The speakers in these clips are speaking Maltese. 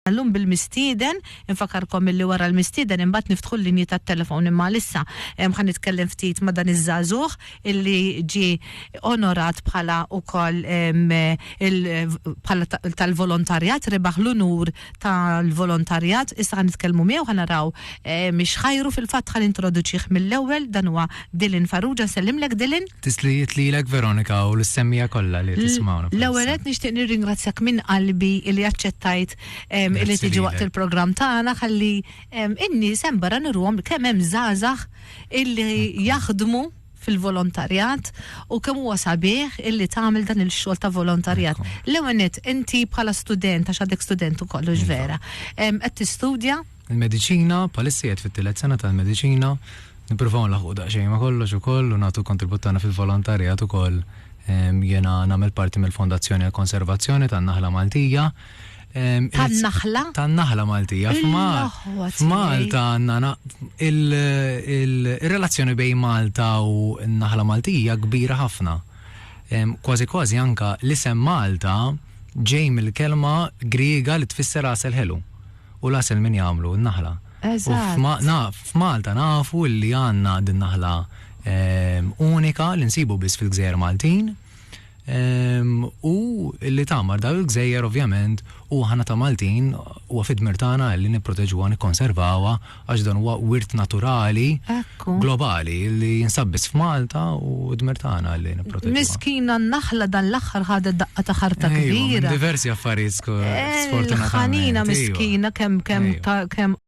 Tal-lum bil-mistieden, infakarkom illi wara l-mistieden imbagħad niftħu l-linji tat-telefon imma għalissa ħa nitkellem ftit ma' dan iż-żagħżugħ illi ġie onorat bħala wkoll il bħala tal-volontarjat rebaħ l-unur tal-volontarjat issa ħa nitkellmu miegħu ħa naraw x'ħajru fil-fatt ħa nintroduċih mill-ewwel dan huwa Dylan Farrugia nsellimlek Dylan. Tislijiet lilek Veronika u l-semmija kollha li qed jismgħuna bħalissa. L-ewwel nett nixtieq nirringrazzjak minn qalbi li aċċettajt li tiġi waqt il-programm tagħna ħalli n-nies hemm barra nurruhom kemm hemm żgħażagħ illi jaħdmu fil-volontarjat u kemm huwa sabiħ illi tagħmel dan il-xogħol ta' volontarjat. L-ewwel nett inti bħala student għax għadek student ukoll hux vera. Qed tistudja? Il-mediċina, bħalissa qiegħed fit-tielet sena tal-mediċina, nippruvaw nlaħħqu daqsxejn ma' kollox ukoll u nagħtu l-kontribut tagħna fil-volontarjat ukoll. Jiena nagħmel parti mill-Fondazzjoni għall-Konservazzjoni tan-Naħla Maltija. Tan-Naħla? Tan-Naħla Maltija. F'Malta għandna il-relazzjoni bejn Malta u n-Naħla Maltija kbira ħafna. Kważi kważi anka l-isem Malta ġej mill-kelma Griega li tfisser għasel ħelu. u l-għasel minn jagħmlu n-naħla. Eżatt. F'Malta nafu li għandna din naħla ehm, unika li nsibu biss fil-gżejjer Maltin. Ehm, u li tamar daw il-gżejjer ovvjament u ħana ta' Maltin u għafid mirtana li niproteġuha, nikkonservawa għax dan huwa wirt naturali globali li jinsab biss f'Malta u d-dmir tagħna li nipproteġu. Miskina n-naħla dan l-aħħar ħadet daqqa ta' ħarta kbira. Diversi affarijiet eh, sfortunatament. Ħanina miskina kemm kemm kemm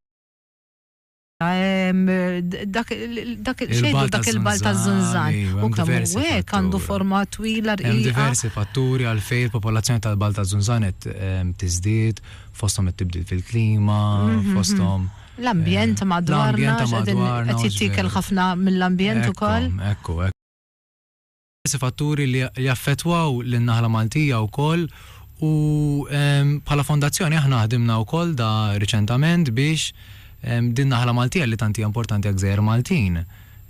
dak il-xejdu dak il-bal ta' zunzan. U kemm hekk għandu forma twila rqija. Diversi fatturi għalfejn il-popolazzjoni tal-bal ta' zunzan qed tiżdied fosthom it-tibdil fil-klima, mhm, fosthom mhm. l-ambjent eh, madwarna, qed jittikel ħafna mill-ambjent ukoll. Ekku, ekku. Fatturi li jaffetwaw l-naħla Maltija wkoll u ehm, bħala fondazzjoni aħna ħdimna wkoll da riċentament biex ehm, din naħla Maltija li tanti importanti għak Maltin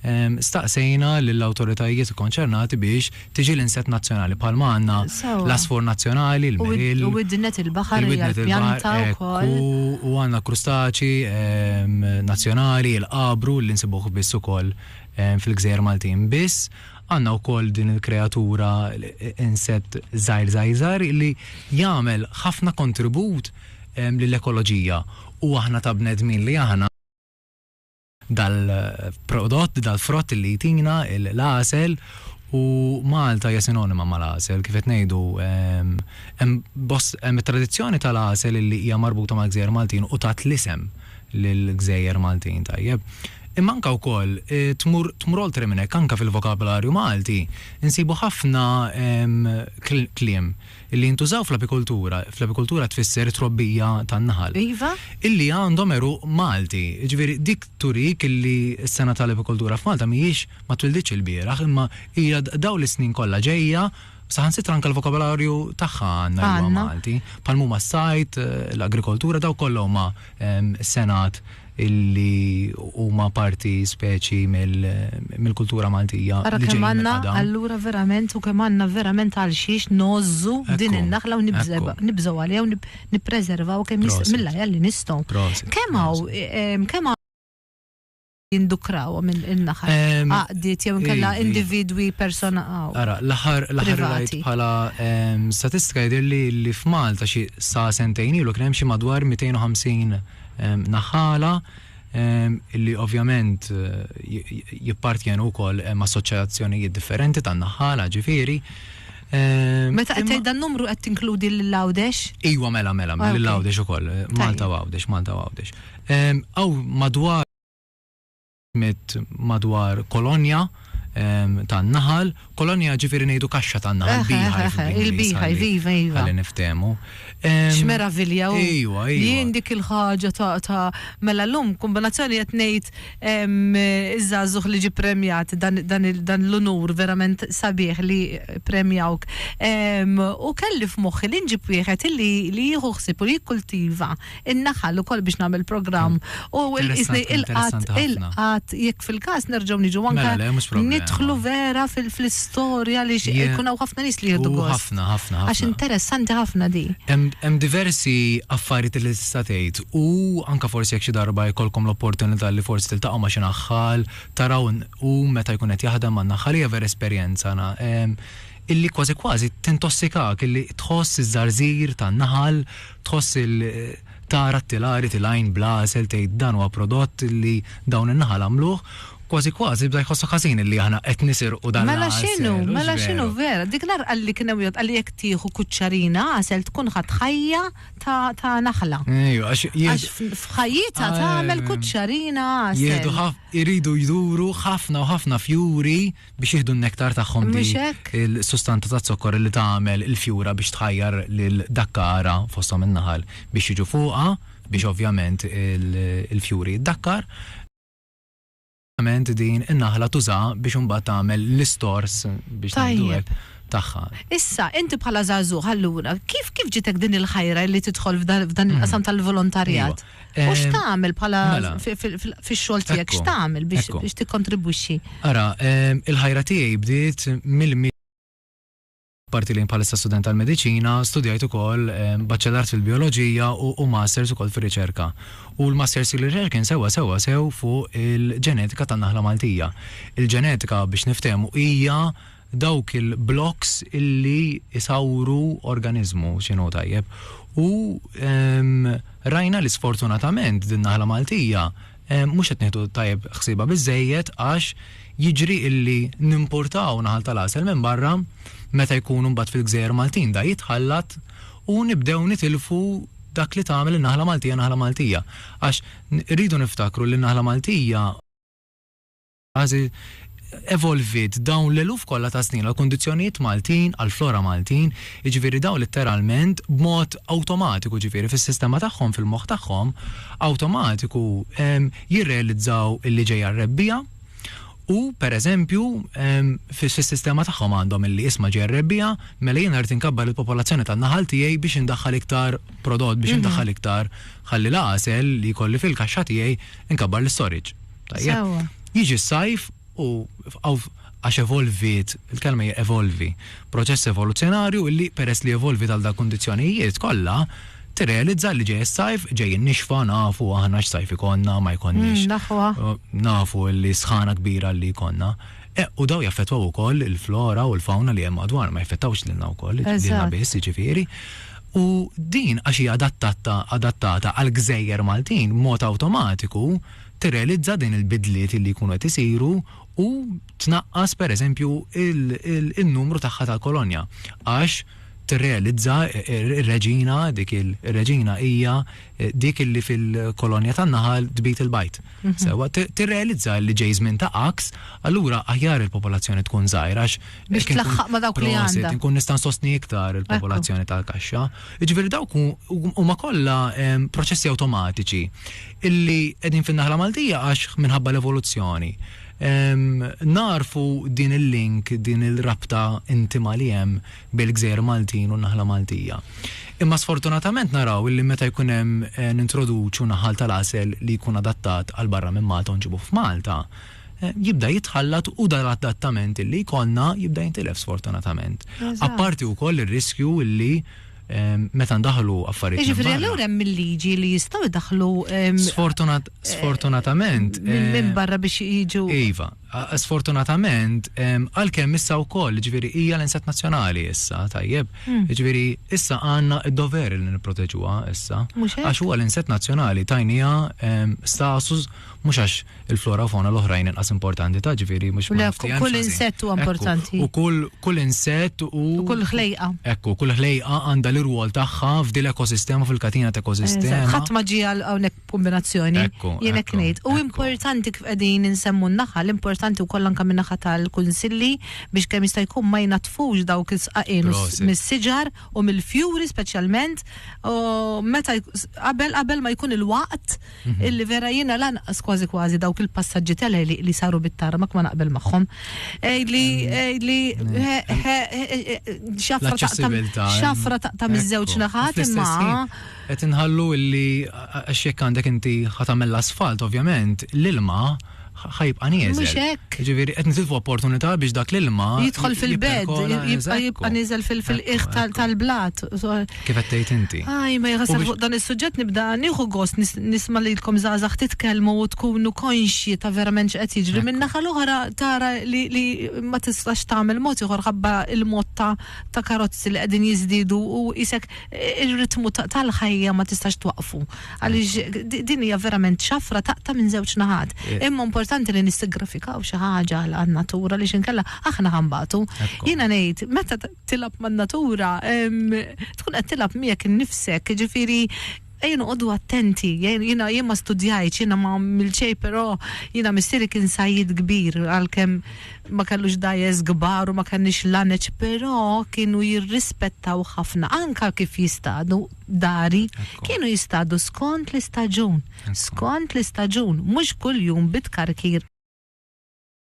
Staqsejna lill-awtoritajiet ikkonċernati biex tiġi l-insett nazzjonali, bħalma għandna l-għasfur nazzjonali, il-meril, il-widnet il-baħar, hekk hu, u għandna krustaċi nazzjonali, il-qabru, li nsibuh biss ukoll fil-gżejjer Maltin. Biss, għandna wkoll din il-kreatura, insett żgħir żgħir żgħir, li jagħmel ħafna kontribut lill-ekoloġija u aħna ta' bnedmin li aħna, dal-prodott, dal-frott li jtina l-għasel u Malta hija sinonima mal-għasel. Kif qed ngħidu, hemm it-tradizzjoni tal-għasel li hija marbuta mal-gżejjer Maltin u tat l-isem lill-gżejjer Maltin, tajjeb. Imma anke wkoll tmur tmur oltre minn hekk, anke fil-vokabolarju Malti nsibu ħafna kliem, Illi jintużaw fl-apikultura, fl-apikultura tfisser it-trobbija tan-naħal. Iva. Illi għandhom għeruq Malti. Jiġifieri dik turik illi s-sena tal-apikultura f'Malta mhijiex, ma twilditx ilbieraħ, imma hija dawn is-snin kollha ġejja, saħansitra anke l-vokabolarju tagħha għandna l-lugħa Malti. Bħalma huma s-sajd, l-agrikoltura, dawk kollha huma senat. illi huma parti speċi mill-kultura Maltija. Ara kemm għandna allura verament u kemm għandna verament għal xiex nożżu din in-naħla u nibżgħu għaliha u nippreservaw kemm mill-ajja li nistgħu. Kemm hawn kemm jindukrawhom in-naħal għaqdiet jew inkella individwi personali. Ara, l-aħħar l-aħħar rajt bħala statistika jidhirli li f'Malta xi sa sentejn ilu kien hemm xi madwar 250 Naħala, illi ovvjament jippartjenu wkoll ma' assoċjazzjonijiet differenti tan-naħala, ġifieri. Meta qed tgħid dan numru qed tinkludi lil Għawdex? Iwa mela mela, mela lil Għawdex ukoll, Malta u Għawdex, Malta u Għawdex. Hawn madwar Mit madwar kolonja ta' naħal, kolonja ġifieri ngħidu kaxxa ta' naħal, beehive. Il-beehive, iva, iva. Ħalli niftehmu. X'meravilja hu. Ejwa, ejwa. Jien dik il-ħaġa ta' ta' mela llum kombinazzjoni qed ngħid iż-żagħżugħ li ġie premjat dan l-unur verament sabiħ li ppremjawk. U kelli f'moħħi li nġib wieħed li jieħu ħsieb u jikkultiva. in-naħal ukoll biex nagħmel programm u qisni il-qatt il-qatt jekk fil-każ nerġgħu niġu anke mela nidħlu vera fil-istorja li jkun hawn ħafna nies li jieħdu gost. Ħafna, ħafna, ħafna. Għax interessanti ħafna di. Hemm diversi affarijiet li tista' tgħid u anke forsi jekk xi darba jkollkom l-opportunità li forsi tiltaqgħu ma' xi naħħal, taraw u meta jkun qed jaħdem man-naħħal hija vera esperjenza illi kważi kważi tintossikak illi tħoss iż-żarżir tan-naħal Tħoss il tara t-tilari tilgħin bla għasel tgħid dan huwa prodott li dawn in-naħal għamluh, kważi kważi bda jħossok ħażin illi aħna qed nisirqu dan l-għasel. Mela x'inhu, mela x'inhu vera? Dik l-għar qalli kien hemm wieħed qalli jekk tieħu kuċċarina għasel tkun ħadt ħajja ta' ta' naħla. Ejwa għax jieħdu. Għax f'ħajjitha tagħmel kuċċarina għasel. Jieħdu ħaf iridu jduru ħafna u ħafna fjuri. biex jieħdu n-nektar tagħhom di il-sustanza ta' zokkor li tagħmel il-fjura biex tħajjar lil dakkara fosthom in-naħal biex jiġu fuqha biex ovvjament il-fjuri jiddakkar. Ovvjament din in-naħla tuża biex imbagħad tagħmel l-istors biex tgħidu tagħha. Issa, inti bħala żagħżugħ allura, kif kif ġitek din il-ħajra li tidħol f'dan il-qasam tal-volontarjat? U x'tagħmel bħala mela. fix-xogħol tiegħek, x'tagħmel biex tikkontribwixxi? Ara, il-ħajra tiegħi bdiet mill parti li bħalissa student tal-mediċina, studjajt ukoll baċċellart fil-bioloġija u masters ukoll fir-riċerka. U l-masters fil-riċerka kien sewa sewa sew fuq il-ġenetika tan-naħla Maltija. Il-ġenetika biex niftehmu hija dawk il-blokks illi jsawru organiżmu x'inhu tajjeb. U rajna li sfortunatament din naħla Maltija mhux qed nieħdu tajjeb ħsiebha biżżejjed għax jiġri illi nimpurtaw naħal tal-għasel minn barra meta jkunu mbagħad fil-gżejjer Maltin da jitħallat u nibdew nitilfu dak li tagħmel in-naħla Maltija naħla Maltija. Għax irridu niftakru li n-naħla Maltija. Għażi evolviet dawn l-eluf kollha ta' snin għall-kundizzjonijiet Maltin, għall-flora Maltin, jiġifieri dawn litteralment b'mod awtomatiku, jiġifieri fis-sistema tagħhom, fil-moħħ tagħhom, awtomatiku jirrealizzaw li ġejja r-rebbiegħa u, pereżempju, fis-sistema tagħhom għandhom illi isma' ġejja r-rebbiegħa, mela jiena rrid inkabbar il-popolazzjoni tan-naħal tiegħi biex indaħħal iktar prodott, biex indaħħal iktar, ħalli l-għasel li jkolli fil-kaxxa tiegħi, inkabbar l-istorage. Tajjeb. Jiġi s-sajf u għax evolviet, il-kelma hija evolvi, proċess evoluzzjonarju illi peress li evolviet għal dawk kundizzjonijiet kollha, tirrealizza li ġej is-sajf, ġej in-nixfa, nafu aħna x'sajf ikollna, ma jkollniex. Nafu li s-sħana kbira li jkollna. U dawn jaffettwaw ukoll il-flora u l-fawna li hemm madwarna, ma jaffettawx lilna wkoll, lilna biss jiġifieri. U din għax hija adattata għall-gżejjer Maltin b'mod awtomatiku, tirrealizza din il-bidliet li jkunu qed isiru u tnaqqas pereżempju n-numru tagħha tal-kolonja għax tirrealizza r-reġina dik ir-reġina hija dik li fil-kolonja tan-naħal tbid il-bajd. Mhm. Sewwa tirrealizza li ġej żmien ta' għaks, allura aħjar il-popolazzjoni tkun żgħira għax biex tlaħħaq ma' dawk li għandha. Inkun nista' nsostni iktar il-popolazzjoni tal-kaxxa. Jiġifieri dawk huma kollha proċessi awtomatiċi illi qegħdin fin-naħla Maltija għax minħabba l-evoluzzjoni nagħrfu din il-link, din il-rabta intima li hemm bejn il-gżejjer Maltin u n-naħla Maltija. Imma sfortunatament naraw illi meta jkun hemm eh, nintroduċu naħal tal-għasel li jkun adattat għal barra minn Malta u nġibuh f'Malta, eh, jibda jitħallat u dan l-adattament illi jkollna jibda jintilef sfortunatament. Apparti wkoll ir-riskju illi meta ndaħlu affarijiet. Jiġifieri allura hemm il-liġi li jistgħu jdaħlu. Sfortunatament. Minn barra biex jiġu. Iva, sfortunatament għalkemm issa wkoll ġifieri hija l-insat nazzjonali issa tajjeb. Hmm. Ġifieri issa għandna d-dover li nipproteġuha issa. Għax huwa l-insat nazzjonali tajnija status mhux għax il-flora u fauna l-oħrajn inqas importanti ta' ġifieri mhux ma' nafti hemm. Kull insett huwa importanti. U kull kull insett u. U kull ħlejqa. Ekku, kull ħlejqa għandha l-irwol tagħha f'din l-ekosistema fil-katina ta' ekosistema. Ħadd ma ġie għal hawnhekk b'kumbinazzjoni. Ekku. Jien hekk ngħid. U importanti kif qegħdin insemmu n-naħa, l-importanti wkoll anke min-naħa tal-kunsilli biex kemm jista' jkun ma jnaddfux dawk is-sqaqien mis-siġar u mill-fjuri speċjalment u meta qabel qabel ma jkun il-waqt illi vera jiena lanqas kważi kważi dawk il-passaġġi tal-għeliq li saru bit-tarmak ma naqbel magħhom. Li li xafra taqtam xafra taqtam iż-żewġ naħat imma qed inħallu illi għax jekk għandek inti ħatamel l-asfalt ovvjament l-ilma ħa jibqa' nieżel. Mhux hekk. Ġifieri qed nitilfu opportunità biex dak l-ilma jidħol fil-bed, jibqa' jibqa' nieżel fil-qiegħ tal-blat. Kif qed tgħid inti? Aj, ma jħassab fuq dan is-suġġett nibda nieħu gost nisma' lilkom żgħażagħ titkellmu u tkunu konxji ta' verament x'qed jiġri. Min-naħa l-oħra tara li ma tistax tagħmel mod ieħor ħabba l-mod ta' karozzi li qegħdin jiżdiedu u isek ir-ritmu tal-ħajja ma tistax twaqqfu. Għaliex din hija verament xafra taqta' minn żewġ naħat. Imma importanti li nissiggrifikaw xi ħaġa għan-natura li xinkella aħna ħambatu. Jiena ngħid, meta tilab man-natura, tkun qed tilab miegħek innifsek, ġifieri ejja noqogħdu attenti, jiena jien ma studjajtx, jiena ma għamilt xejn, però jiena missieri kien sajjid kbir għalkemm ma kellux dajes kbar u ma kellniex laneċ, però kienu jirrispettaw ħafna anke kif jistadu, dari, kienu jistadu skond l-istaġun, skond l-istaġun, mhux kuljum bi tkarkir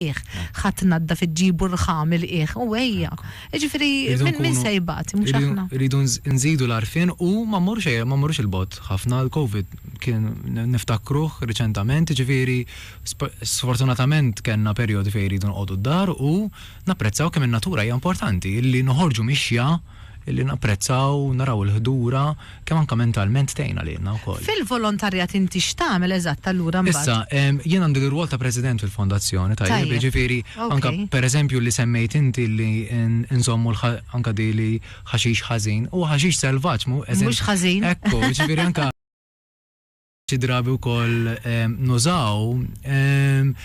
qiegħ. Ħa tnaddaf iġġibu r-rħa mill-qiegħ u ejja. Jiġifieri min min se jbati, mhux aħna. Irridu nżidu l-għarfien u ma mmorrux ejja ma mmorrux il-bogħod ħafna, l-Covid kien niftakruh riċentament, jiġifieri sfortunatament kellna perjodi fejn irridu noqogħdu d-dar u, Napprezzaw kemm in-natura hija importanti, li noħorġu mixja, li napprezzaw, naraw il-ħdura, kemm anke mentalment tgħinna lilna wkoll. Fil-volontarjat inti x'tagħmel eżatt allura mbagħad? Issa, jien għandi l-irwol ta' President fil-Fondazzjoni, tajjeb, jiġifieri anke pereżempju li semmejt inti li nżommu anke di li ħaxix ħażin, huwa ħaxix selvaġġ, mhu eżatt. Mhux ħażin. Ekku, jiġifieri anke. xi drabi wkoll nużaw.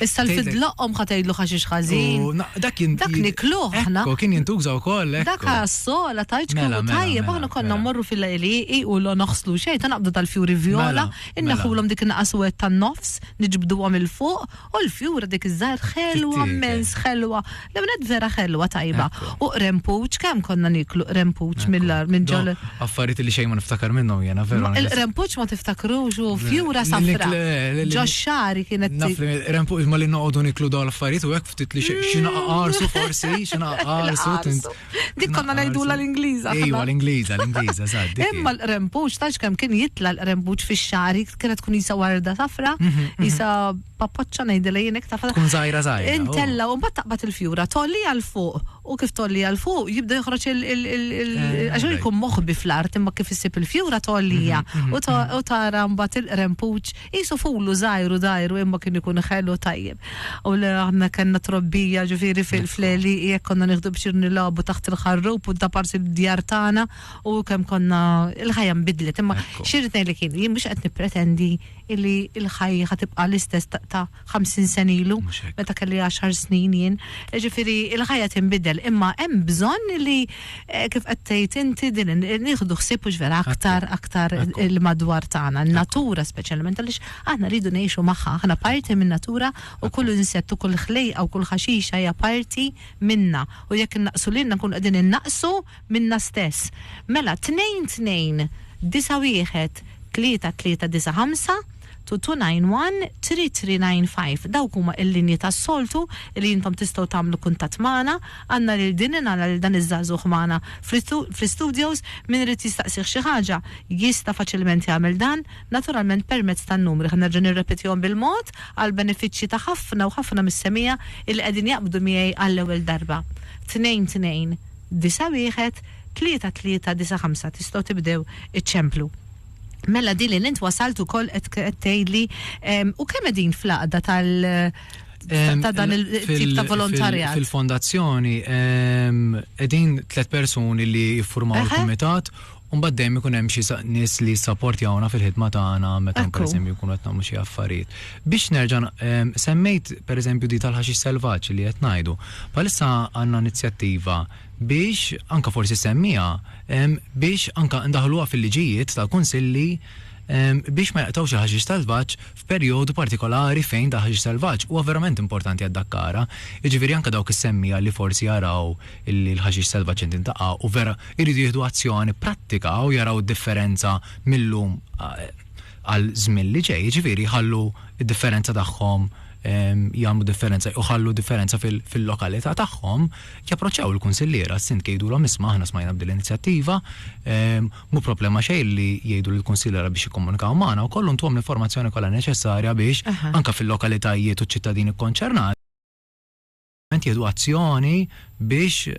Issa l-fid loqqom ħa tgħidlu ħaxix ħażin. Dak kien Dak nikluh aħna. Ekku, kien jintuża wkoll. Dak għas-sola tajt mela, kellu mela, tajjeb mela, aħna konna mmorru fil-laqliqi u l noħslu xejn ta' naqbdu tal-fjuri vjola, inneħulhom dik in-naqas wet tan-nofs, niġbduhom il fuq O l-fjura dik iż-żgħir ħelwa Tittiekle. mmens ħelwa. L-ewwel nett vera ħelwa tajba. Ekku. U qrempuċ kemm konna nieklu qrempuċ Ekku. mill-ar minn ġol Dawn affarijiet li xejn ma niftakar minnhom jiena veru. anke se- Il-qrempuċ ma tiftakrux u fjura Li- li- safra. li- li- li- li- Ġo xagħri kienet Naf li rempu imma li noqogħdu niklu dawn l-affarijiet u hekk ftit li xi xi naqa' qarsu forsi, xi naqa' qarsu. Naqa' tint- qarsu. Dik konna ngħidula l-Ingliża. Ejwa, l-Ingliża, l-Ingliża, sad. Imma l-qrempux, tax kemm kien jitla l-qrempux fix-xari, kienet tkun jisa warda safra, mhm, mhm. jisa pappoċċa ngħidilha jien iktar. Tkun żgħira żgħira. Oh. Intella u mbagħad taqbad il-fjura, tolli għal fuq u kif tolli għal fuq jibda joħroġ il- eh, għax jkun moħbi fl-art imma kif issib il-fjura tollija mhm, u tara mbagħad il-qrempux Qisu fulu żgħir u dgħajru imma kien ikun ħelu tajjeb. U le aħna kellna trobbija ġifieri fil-għelieqi hekk konna nieħdu bċir nilagħbu taħt il-ħarrub u da parsi d-djar tagħna u kemm konna il-ħajja nbidlet imma xi rrid ngħidlek jien, jien mhux qed nippretendi illi l-ħajja ħa tibqa' l-istess ta' 50 sena ilu, meta kelli 10 snin jien. Ġifieri il-ħajja tinbidel, imma hemm bżonn li eh, kif qed tgħid inti din nieħdu ħsieb mhux vera aktar aktar il-madwar tagħna, n-natura speċjalment għaliex aħna rridu ngħixu magħha, aħna parti min-natura u kull insett u kull ħlejqa u kull ħaxixa hija parti minna u jekk innaqsu lilna nkunu qegħdin innaqsu minnha stess. Mela, tnejn tnejn disa' wieħed tlieta tlieta disa' ħamsa, two two nine one three three nine five. Dawk huma l-linji tas-soltu li intom tistgħu tagħmlu kuntatt magħna. Għandna lil din in għandna lil dan iż-żagħżugħ magħna fl-istudios. Min irid jistaqsih xi ħaġa jista' faċilment jagħmel dan, naturalment permezz tan-numri. Ħa nerġa' nirrepetihom bil-mod għall-benefiċċji ta' ħafna u ħafna mis-semiegħa li qegħdin jaqbdu miegħi għall-ewwel darba. Tnejn tnejn disa' wieħed, tlieta tlieta disa' ħamsa tistgħu tibdew iċċemplu. Mela din li int wasalt ukoll qed tgħidli u kemm qegħdin fl-għaqda tal ta' dan il-tip ta' volontarjat. Fil-fondazzjoni qegħdin tliet persuni li jiffurmaw il-kumitat U mbagħad dejjem ikun hemm xi nies li jissaportjawna fil-ħidma tagħna meta pereżempju nkunu qed nagħmlu xi affarijiet. Biex nerġa' semmejt pereżempju di tal-ħaxix selvaġġ li qed ngħidu. Bħalissa għandna inizjattiva biex, anke forsi semmiha, biex anke ndaħħluha fil-liġijiet tal-kunsilli biex ma jaqtgħux il-ħaxix selvaġġ Perjodu partikolari fejn dak ħaxix selvaġġ huwa verament importanti għad-dakkara, jiġifieri anke dawk is-semmiegħa li forsi jaraw li l-ħaxix selvaġġ qed jintaqa' u vera jridu jieħdu azzjoni prattika u jaraw id-differenza mil-lum għal żmien li ġej, jiġifieri jħallu d-differenza tagħhom jagħmlu differenza u jħallu differenza fil-lokalità tagħhom, japproċċaw il-kunsilliera, s-sindki jgħidulhom isma' aħna smajna b'din l-inizjattiva, Mhu problema xejn li jgħidu lill-kunsilliera biex jikkomunikaw magħna wkoll u ntuhom l-informazzjoni kollha neċessarja biex, anke fil-lokalitajiet u ċ-ċittadini kkonċernati, jieħdu azzjoni biex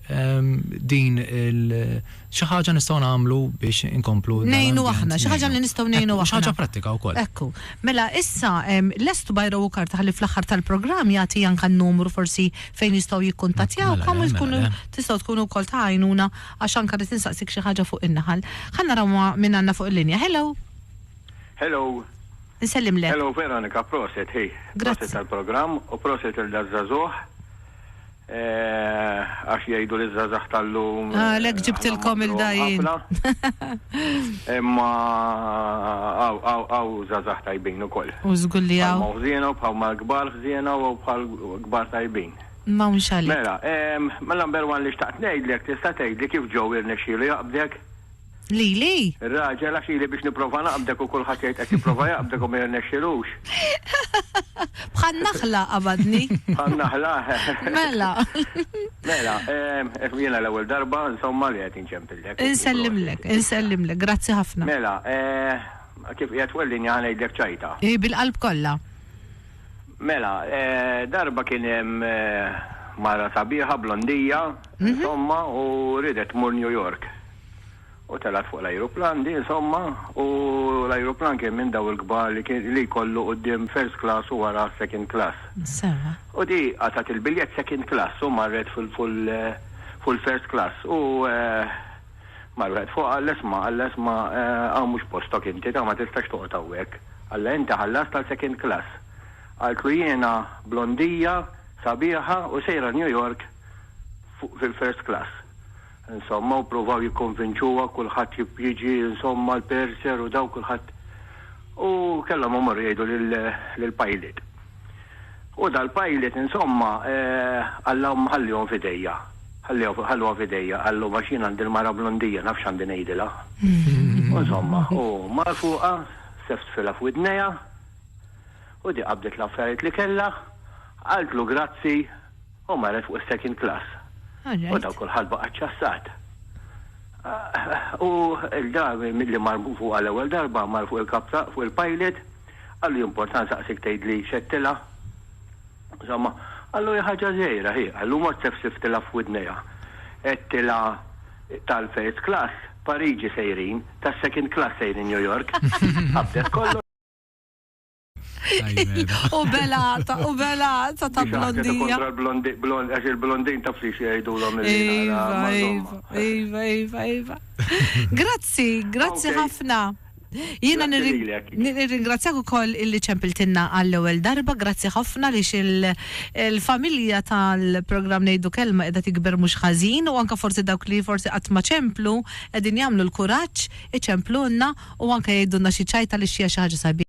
din il. Xi ħaġa nistgħu nagħmlu biex inkomplu. Ngħinu aħna, xi ħaġa li nistgħu ngħinu aħna. Xi ħaġa prattika wkoll. Ekku. Mela issa lest Bajra u Karta ħalli fl-aħħar tal-programm jagħti anke n-numru forsi fejn jistgħu jikkuntattjawkom u tkunu tistgħu tkunu wkoll ta' għajnuna Għax anka rrid insaqsik xi ħaġa fuq in-naħal. Ħa naraw ma' min għandna fuq il-linja. Hello! Hello! Insellimlek. Hello Veronika, proset, hi. Grazzi. Proset tal-programm u proset lil daż-żagħżugħ. Eh, għax jgħidu li żgħażagħ tal-lum. Għalhekk eh, ġibtilkom il-dajjin. Imma għaw żgħażagħ tajbin ukoll. U żgulli għaw. Bħal ħżiena u bħal mal-kbar ħżiena u bħal kbar tajbin. M'hawnx għalik. Mela, ehm, number one li xtaqt ngħidlek, tista' tgħidli kif Joe irnexxielu jaqbdek? Lili? Ir-raġel, għax ili biex nipprova naqbdek u kulħadd jgħid qed jipprova jaqbdek u ma jirnexxilux. Bħan-naħla qabadni. Bħan-naħla? Mela. Mela, ehm, jiena l-ewwel darba, insomma, li qed inċempillek. Insellimlek, insellimlek, grazzi ħafna. Mela, eh, kif qiegħed fuq il-linja ħa ngħidlek ċajta. Bil-qalb kollha. Mela, darba kien hemm mara sabiħa blondija, insomma, u riedet tmur New York. U telgħet fuq l-ajruplan di, insomma, u l-ajruplan kien minn daw il-kbar li kien li jkollu quddiem first class u wara second class. Sewwa. U di qatgħet il-biljett second class u marret fil-first class u, Mar wieħed fuqha qal, Isma', qal, isma', hawn mhux postok inti, ta' ma tistax toqgħod hawnhekk. Qalla, Inti ħallast għal second class. Qaltlu, Jiena blondija, sabiħa u sejra New York fuq fil-first class. Insomma, u pruvaw jikkonvinċuha, kulħadd jiġi, insomma, l-purser u dawk kulħadd. U kellhom imorru jgħidu lill-pilot. U dal-pilot insomma, Alla ħallihom f'idejja. Ħallihom, ħalluha f'idejja, qallu, għax jien għandi l-mara blondija, naf x'għandi ngħidilha. U insomma, hu mar fuqha, seftfilha f'widnejha, u di qabdet l-affarijiet li kellha, qaltlu grazzi, u marret fuq is-second class. U daw kulħadd baqa' ċċassat. U l-da, milli mar fuqha l-ewwel darba, mar fuq il-kap ta', fuq il-pilot, Qallu jimporta nsaqsik tgħidli x'għedtilha? Insomma, qallu hi ħaġa żgħira hi, qallu mort sefsiftilha f'widnejha. Għedtilha tal-first class Pariġi sejrin, tas-second class sejrin New York. Qabdet kollox. U bela ta' u bela ta' ta' blondija. Għax il-blondin taf li xiejdulhom il-lina. Iva, iva, iva, iva. Grazzi, grazzi ħafna. Jiena nirringrazzjak ukoll illi ċempiltilna għall-ewwel darba. Grazzi ħafna għaliex il-familja tal-programm Ngħidu Kelma qiegħda tikber mhux ħażin u anke forsi dawk li forsi qatt ma ċemplu qegħdin jagħmlu l-kuraġġ iċemplulna u anke jgħidulna xi ċajt għaliex hija xi ħaġa sabiħa.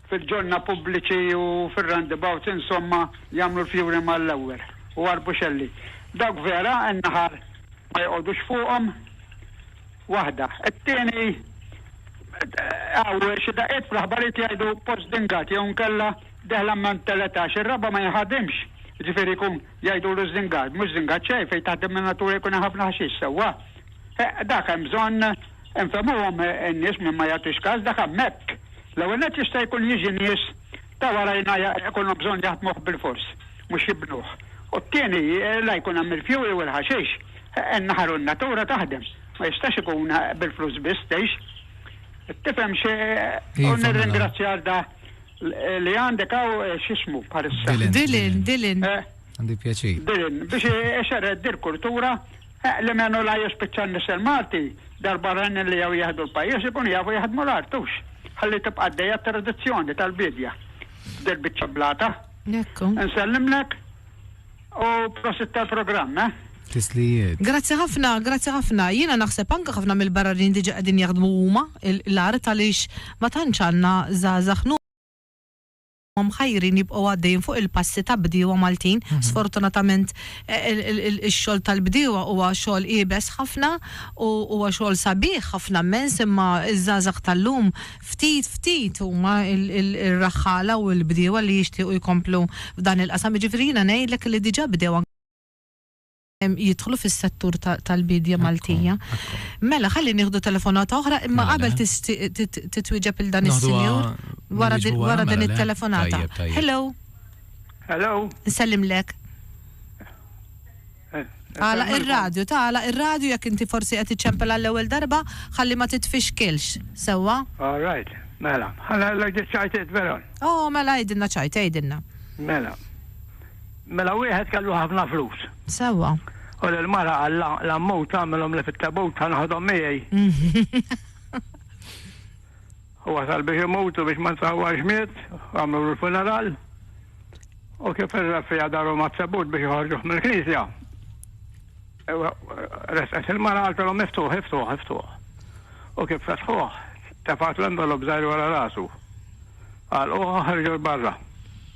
fil-ġonna pubbliċi u fir-roundabouts, insomma, jagħmlu l-fjuri mal-ewwel, u arbuxelli. Dawk vera, in-naħal ma joqogħdux fuqhom, waħda. It-tieni, hawn xi daqqiet fl-aħbarijiet li jgħidu post dingat jew inkella dehla minn teletax, ir-raba' ma jinħadimx, jiġifieri jkun jgħidulu żingat, mhux żingat xejn, fejn taħdem in-natura jkun hemm ħafna ħaxix, sewwa? Dak hemm bżonn infehmuhom in-nies min ma jagħtix kas, dak hemmhekk. L-ewwel nett jista' jkun jiġi nies ta' warajna jkollhom bżonn jaħdmuh bilfors, mhux jibnuh. U t-tieni, la jkun hemm il-fjuwil u l-ħaxix. In-naħar u n-natura taħdem. Ma jistax ikun bil-flus biss tgħix. Tifhem xi u nirringrazzja għal da li għandek hawn x'ismu bħalissa. Dylan, Dylan. Għandi pjaċir. Dylan, biex ixerred dil-kultura. Eħ, li menu la jispiċċa n-nisel Malti, dal-barranin li jew jieħdu l-pajjiż ikunu jafu jaħdmu l-art, hux? Ħalli tibqa' għaddejja t-tradizzjoni tal-biedja f'dil-biċċa blata. Ekku. Nsellimlek u prosit tal-programm, eh? Tislijiet. Grazzi ħafna, grazzi ħafna. Jiena naħseb anke ħafna mill-barranin diġà qegħdin jaħdmu huma l-art għaliex ma tantx għandna żgħażagħ huma mħajrin jibqgħu għaddejjin fuq il-passi ta' bdiewa Maltin. Sfortunatament ix-xogħol tal-bdiewa huwa xogħol iebes ħafna u huwa xogħol sabiħ ħafna mmens imma ż-żgħażagħ tal-lum ftit ftit huma r-raħħala u l-bdiewa li jixtiequ jkomplu f'dan il-qasam. Jiġifieri jiena ngħidlek li diġà bdew anke. jidħlu fis-settur tal-biedja Maltija. Mela, ħalli nieħdu telefonata oħra, imma mela, qabel mela. titwieġeb il dan is-sinjur wara din mela, it-telefonata. Hello. Hello. Nsellimlek. Eh, għala ir-radju, ta' għala ir-radju jekk inti forsi qed iċċempel għall-ewwel darba, ħalli ma titfixkilx, sewwa? All right, mela, ħalla l-għajdi ċajt veron. Oh, mela għajdinna ċajt, għajdinna. Mela, Mela wieħed kellu ħafna flus. Sewwa. U lill-mara qal, La, l-ammut agħmilhomli fit-tabut, ħa noħodhom miegħi. U wasal biex imut u biex ma nsawwarx miet, u għamlulu l-funeral. U kif ir-reffiegħa daru mat-tabut biex joħorġuh mill-knisja, resqet il-mara qaltilhom, Iftuh, iftuh, iftuh. U kif fetħuh, tefgħatlu envelop żgħir wara rasu. Għalquh u ħarġu 'l barra.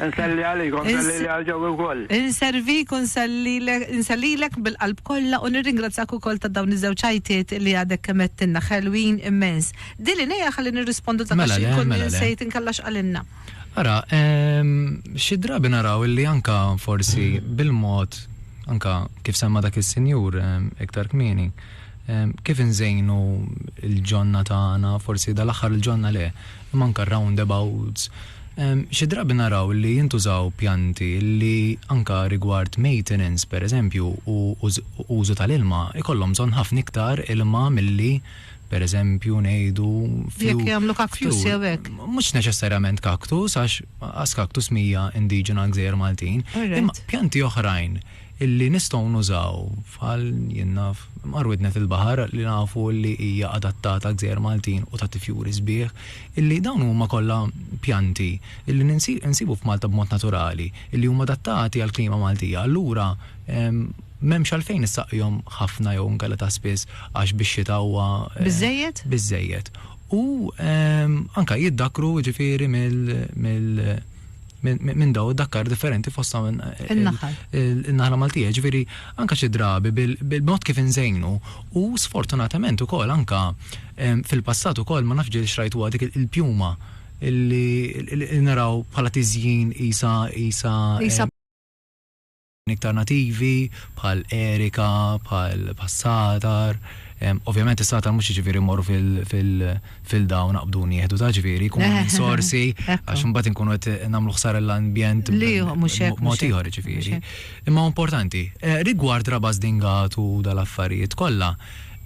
Inselli għalik u nselli li għal ġewwi wkoll. Inservik u nsellilek bil-qalb kollha u nirringrazzjak ukoll ta' dawn iż-żewġ għajtiet li għadek kemm għedtilna, ħelwin immens. Dili ngħiha ħalli nirrispondu ta' għax inkun insejt inkella x'qalilna. Ara, xi drabi naraw illi anke forsi bil-mod anke kif semma dak is-sinjur iktar kmieni, Kif inżejnu l-ġonna tagħna, forsi dal-aħħar il-ġonna le, imma anke r-roundabouts. Xi drabi naraw li jintużaw pjanti li anke rigward maintenance, pereżempju, u użu tal-ilma, ikollhom bżonn ħafna iktar ilma milli, pereżempju, ngħidu, fjuwil. Jekk jagħmlu cactus jew hekk. Mhux neċessarjament cactus, għax as cactus mhija indiġena għall-gżejjer Maltin. Imma pjanti oħrajn. illi nistgħu nużaw bħal, jien naf, Imqar Widnet il-Baħar li nafu illi hija adattata għall-gżejjer Maltin u tagħti fjuri sbieħ, illi dawn huma kollha pjanti illi nsibu f'Malta b'mod naturali, illi huma adattati għall-klima Maltija, allura m'hemmx għalfejn issaqjhom ħafna jew inkella ta' spiss għax bix-xita huwa biżżejjed. U anke jiddakkru jiġifieri mill-, minn daw id-dakkar differenti fosta minn in-naħla Maltija, ġviri anka xi drabi bil-mod kif inżejnu u sfortunatament ukoll anka fil-passat ukoll ma nafx ġiel xrajtu dik il-pjuma li naraw bħala tiżjin isa isa iktar nativi bħal erika, bħal satar, ovvjament is-satar mhux jiġifieri mmorru fil-filda u naqbdu nieħdu ta' ġifieri jkunu minn sorsi għax imbagħad inkunu qed nagħmlu ħsara lill-ambjent b'mod ieħor jiġifieri. Imma hu importanti. Rigward Rabas Dingat u dal-affarijiet kollha,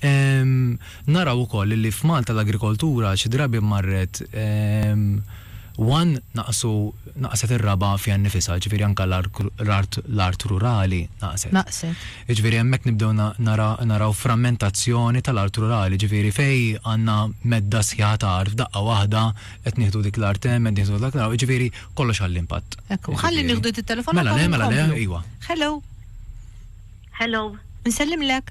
naraw ukoll illi f'Malta l-agrikoltura xi drabi marret one, naqsu, naqset ir-raba' fiha nnifisha, ġifieri anke l-art rurali naqset. Jiġifieri hemmhekk nibdew naraw frammentazzjoni tal-art rurali, ġifieri fejn għandna medda sħiħa ta' art f'daqqa waħda qed nieħdu dik l-art hemm, qed nieħdu dak l-art, jiġifieri kollox għal impatt. Ekku, ħalli nieħdu din it-telefonata u nkomplu. Mela le, mela le, iwa. Hello. Hello. Insellimlek.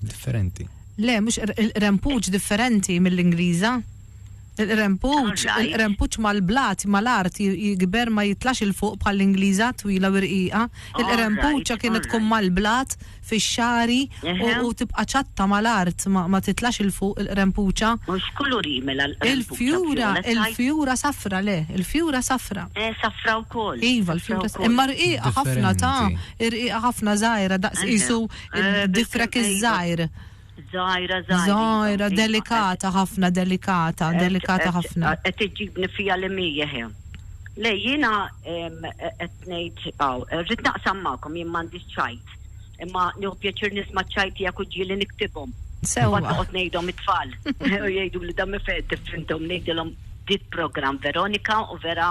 differenti. Le, mhux il-qrempuċ differenti mill-Ingliża. Il-qrempuċ, il-qrempuċ mal-blat, mal-art jikber ma jitlax il-fuq bħall-Ingliża twila u rqiqa. Il-qrempuċa kienet tkun mal-blat fix-xari u tibqa' ċatta mal-art ma titlax il-fuq il-qrempuċa. Mhux kulur jimela l-qrempuċa. Il-fjura, il-fjura safra le, il-fjura safra. Eh, safra wkoll. Iva, l-fjura safra. Imma rqiqa ħafna ta' rqiqa ħafna żgħira daqs isu Id-difrek iż-żgħir. Żgħira, żgħira. Żgħira, delikata ħafna, delikata, delikata ħafna. Qed iġibni fija li mija ħin. Le jiena qed ngħid hawn, rrid naqsam magħkom jien m'għandix ċajt. Imma nieħu pjaċir nisma' ċajt tiegħek u ġieli niktibhom. Sewwa. Noqgħod ngħidhom it-tfal. U jgħidu li dan mifed tifhimthom ngħidilhom dit programm Veronika u vera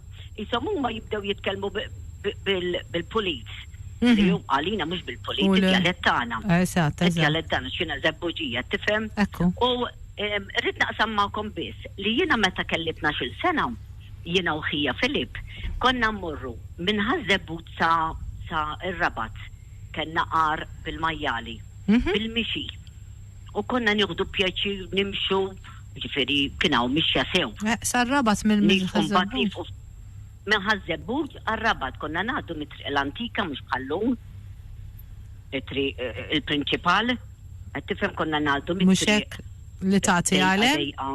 Qishom huma jibdew jitkellmu bil-pulit. Li hu għalina mhux bil-pulit, id-djalett tagħna. Eżatt, eżatt. Id-djalett tagħna, x'inha Żebbuġija, tifhem? Ekku. U rrid naqsam magħkom biss li jiena meta kelli tnax-il sena, jiena u ħija Filip, konna mmorru minn Ħaż-Żebbuġ sa sa r-Rabat. Kellna għar bil-majjali. Bil-mixi. U konna nieħdu pjaċir nimxu. jiġifieri kien hawn mixja sew. Eħ, sar-Rabat minn Nies u mbagħad Ħaż-Żebbuġ. nilħqu f', minn Ħaż-Żebbuġ għar-Rabat konna ngħaddu mit-triq l-antika mhux bħal lum, it-triq il-prinċipal, qed tifhem konna ngħaddu Mhux mit-triq hekk li tagħti dejqa għalem? dejqa,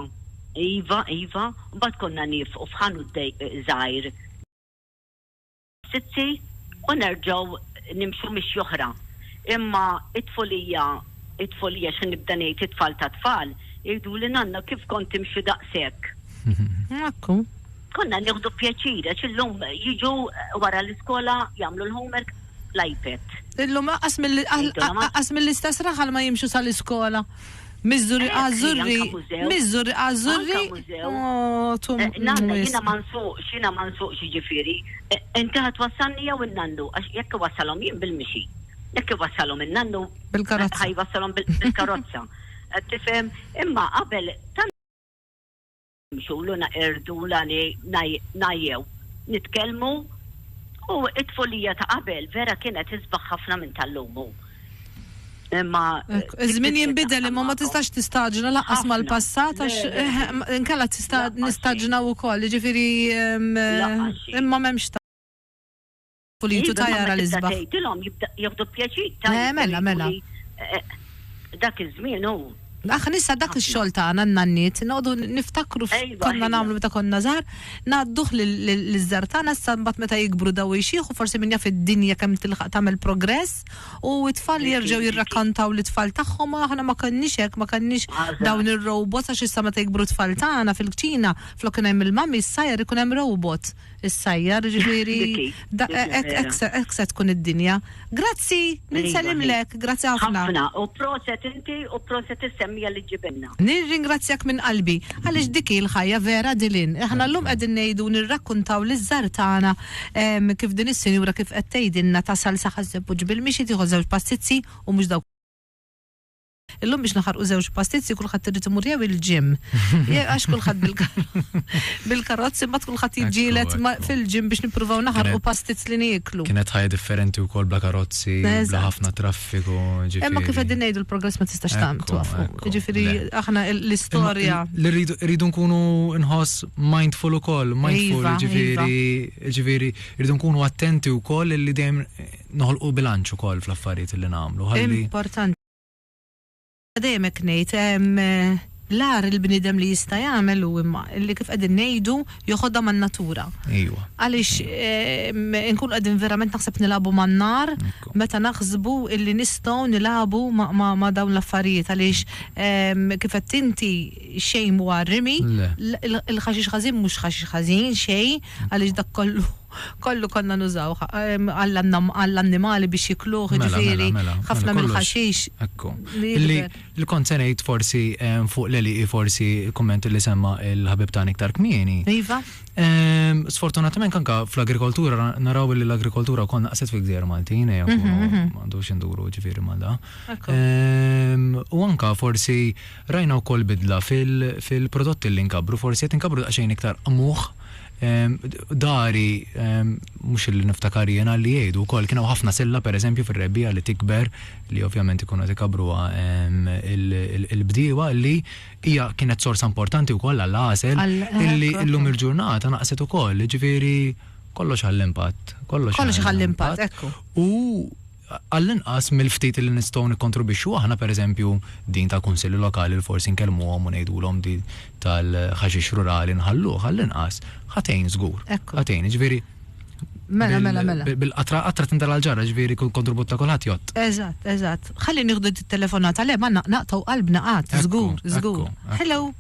iva, iva, u mbagħad konna nilħqu f'ħanut dej żgħir, Sitti, u nerġgħu nimxu mixja oħra. Imma t-tfulija, it-tfulija, xi nibda ngħid, it-tfal tat-tfal, jgħiduli, Nanna, kif kont timxi daqshekk? Ekku. Konna nieħdu pjaċir, għax illum jiġu wara l-iskola, jagħmlu l-homework fl-iPad. Illum anqas mill-istess raħal ma jimxu sal-iskola. Miżżurri Ażżurri Miżżurri Ażżurri Ohh tu wisq. Nanna jiena ma nsuqx jiena ma nsuqx jiġifieri inti ħa twassalni jew in-nannu għax jekk iwassalhom jien bil-mixi jekk iwassalhom in-nannu ħa jwassalhom bil-karozza qed tifhem imma qabel tant Mxulu naqerdu la ngħajjew nitkellmu u t-tfulija ta' qabel vera kienet isbaħ ħafna minn tal-lum u imma. Iż-żmien jinbidel imma ma tistax tistaġna lanqas mal-passat għax inkella tista' nistaġnaw ukoll jiġifieri imma m'hemmx U li jtu tajjar għal isbaħ. Iva, imma meta tibda tgħidilhom jieħdu pjaċir tajjeb. Le, mela, mela. Dak iż-żmien hu. Aħna issa dak ix-xogħol tagħna n-nanniet noqogħdu niftakru x'konna nagħmlu meta konna żgħar, ngħadduh liż-żgħar tagħna issa mbagħad meta jikbru daw ix-xiħu forsi min jaf id-dinja kemm tilħaq tagħmel progress u t-tfal jerġgħu jirrakkontaw lit-tfal tagħhom aħna ma kenniex hekk, ma kenniex dawn ir-robots għax issa meta jikbru t-tfal tagħna fil-kċina flok kien hemm il-mummy issa jrid ikun hemm robot. Issajjar, jiġifieri hekk se tkun id-dinja. Grazzi, ninsellimlek, grazzi ħafna. Ħafna, u proset inti u proset is-semmiegħa li ġġibilna. Nirringrazzjak minn qalbi, għaliex dik hi l-ħajja vera Dylan. Aħna llum qegħdin ngħidu u nirrakkuntaw liż-żgħar tagħna kif din is-sinjura kif qed tgħidilna tasal sa ħażeb u ġibil, mixi tieħu żewġ passizzi u mhux dawk. Illum biex naħarqu żewġ pastizzi kulħadd irid imur jew il-ġim. Għax kulħadd bil-karozzi mbagħad kulħadd jiġġielet fil-ġim biex nippruvaw naħarqu pastizz li nieklu. Kienet ħajja differenti wkoll bla karozzi, bla ħafna traffiku. Imma kif qegħdin ngħidu l-progress ma tistax tagħmel. Ġifieri aħna l-istorja. Li rridu nkunu nħoss mindful ukoll, mindful iva, ġifieri iva. ġifieri rridu nkunu attenti wkoll li dejjem noħolqu bilanċ ukoll fl-affarijiet li nagħmlu. Importanti. Dejjem hekk ngħid, l-agħar il-bniedem li jista' jagħmel hu imma li kif qegħdin ngħidu joħodha man-natura. Ejwa. Għaliex inkunu qegħdin verament naħseb nilagħbu man-nar meta naħsbu illi nistgħu nilagħbu ma' dawn l-affarijiet għaliex kif għedt inti xejn mhuwa rimi, il-ħaxix ħażin mhux ħaxix ħażin xejn għaliex dak kollu. kollu konna nużawh għall-annimali biex jikluh, jiġifieri ħafna mill-ħaxix li jikber. Li kont se ngħid forsi fuq l-għelieqi forsi l-kumment li semma l-ħabib tagħna iktar kmieni. Iva. Sfortunatament anke fl-agrikoltura naraw li l-agrikoltura wkoll naqset fil-gżejjer Maltin, ejja nkunu ma għandux induru jiġifieri ma' da. U anke forsi rajna wkoll bidla fil-prodotti li nkabbru, forsi qed inkabbru daqsxejn iktar qmuħ, Dari, mhux illi niftakar jiena, li jgħidu wkoll kien hawn ħafna silla pereżempju fir-rebbiegħa li tikber li ovvjament ikunu qed ikabbruha il-bdiewa li hija kienet sorsa importanti wkoll għall-għasel illi llum il-ġurnata naqset ukoll, jiġifieri kollox ħall-impatt. Kollox ħall-impatt, ekku. U għall-inqas mill-ftit li nistgħu nikkontribwixxu aħna, pereżempju, din tal-kunsilli lokali li forsi nkellmuhom u ngħidulhom din tal-ħaxix rurali nħalluh, għall-inqas ħa tgħin żgur. Ħa tgħin, jiġifieri Mela, mela, mela. Bil-qatra qatra tindal għall-ġarra, ġifieri kull kontribut ta' kulħadd jgħodd. Eżatt, eżatt. Ħalli nieħdu t-telefonata le ma naqtgħu qalbna qatt, żgur, żgur. Hello.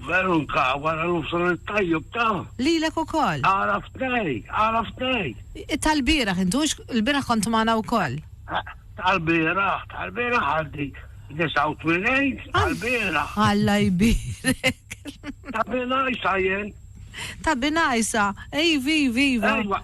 Veru nka wara l-ufsar it-tajjeb ta. Lilek ukoll. Għaraft ngħid, għaraft ngħid. Tal-bieraħ inti hux l-bieraħ kont magħna wkoll. Tal-bieraħ, tal-bieraħ għandi 89, tal-bieraħ. Alla jbierek. Ta' binajsa jien. Ta' binajsa, ej, vivi, viva.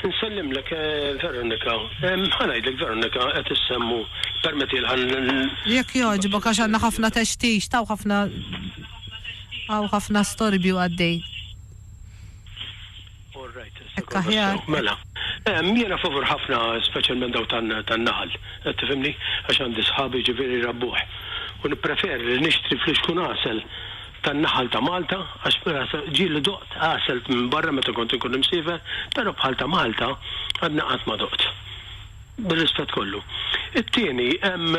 Nsellimlek Veronika. Ħa ngħidlek Veronika qed issemmu permettieli ħa n. Jekk jogħġbok għax għandna ħafna textix t'hawn ħafna hawn ħafna storbju għaddej. All right Hekk aħjar. Mela. Jiena favur ħafna speċjalment dawn tan-naħal. Qed tifhimni? Għax għandi sħabi ġifieri jrabbuh. U nippreferi li nixtri fl-ixkun għasel tan-naħal ta' Malta, għax mela sa ġieli doqt għasel minn barra meta kont inkun imsiefer, però bħal ta' Malta għadni qatt ma doqt. Bir-rispett kollu. It-tieni, hemm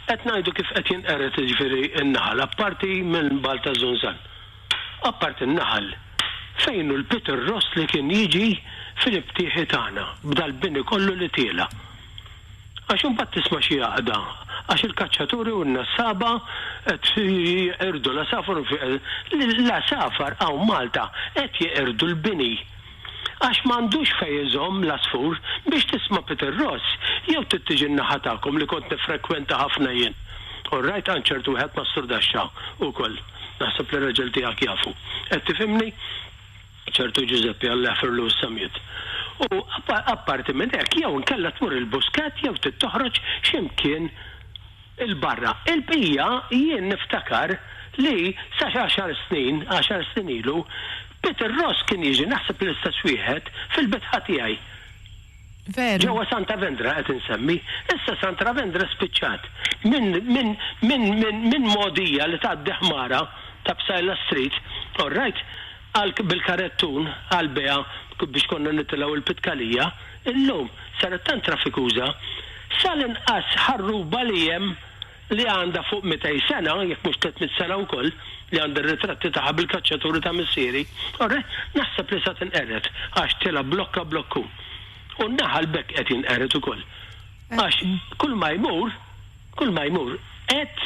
qed ngħidu kif qed jinqered jiġifieri n-naħal, apparti minn Balt taż-Żunżan. Apparti n-naħal, fejn hu l-Peter Ross li kien jiġi fil-btieħi tagħna, b'dal-bini kollu li tiela'? Għax imbagħad tisma' xi għaqda, għax il-kaċċatur iurinna s-saba' qed jeqirdu l-għasafar u fiqel, l-għasafar hawn Malta qed jeqirdu l-bini għax m'għandux fejn iżomm l-għasfur, biex tisma' Peter Ross jew trid tiġi n-naħa tagħkom li kont niffrekwenta ħafna jien. Orrajt għand ċertu wieħed Massur Daxxa ukoll, naħseb li r-raġel tiegħek jafu. Qed tifhimni? ċertu Ġużeppi Alla jaħfirlu s-samijiet, u apparti minn hekk jew inkella tmur il-Buskett jew trid toħroġ xi mkien 'il barra. Il-bqija jien niftakar li sa xi għaxar snin, għaxar snin ilu, Peter Ross kien jiġi, naħseb l-istess wieħed, fil-bitħa tiegħi. Veru. Ġewwa Santa Vendra qed insemmi. Issa Santra Vendra spiċċat. Minn, minn, minn, minn, minn Mogħdija li tgħaddi ħmara ta' Psaila Street, all right, Għalhekk bil-karettun għall-bejgħ biex konna nitilgħu il-Pitkalija, illum saret tant traffikuża, sa l-inqas ħarruba li hemm li għandha fuq mitej sena, jekk mhux tliet mitt sena wkoll, li għandi r-ritratti tagħha bil-kaċċaturi ta' missieri, orreh, naħseb li sa tinqered għax tilgħab blokka blokku. U n-naħal b'hekk qed jinqered ukoll. Għax kull ma jmur, kull ma jmur qed.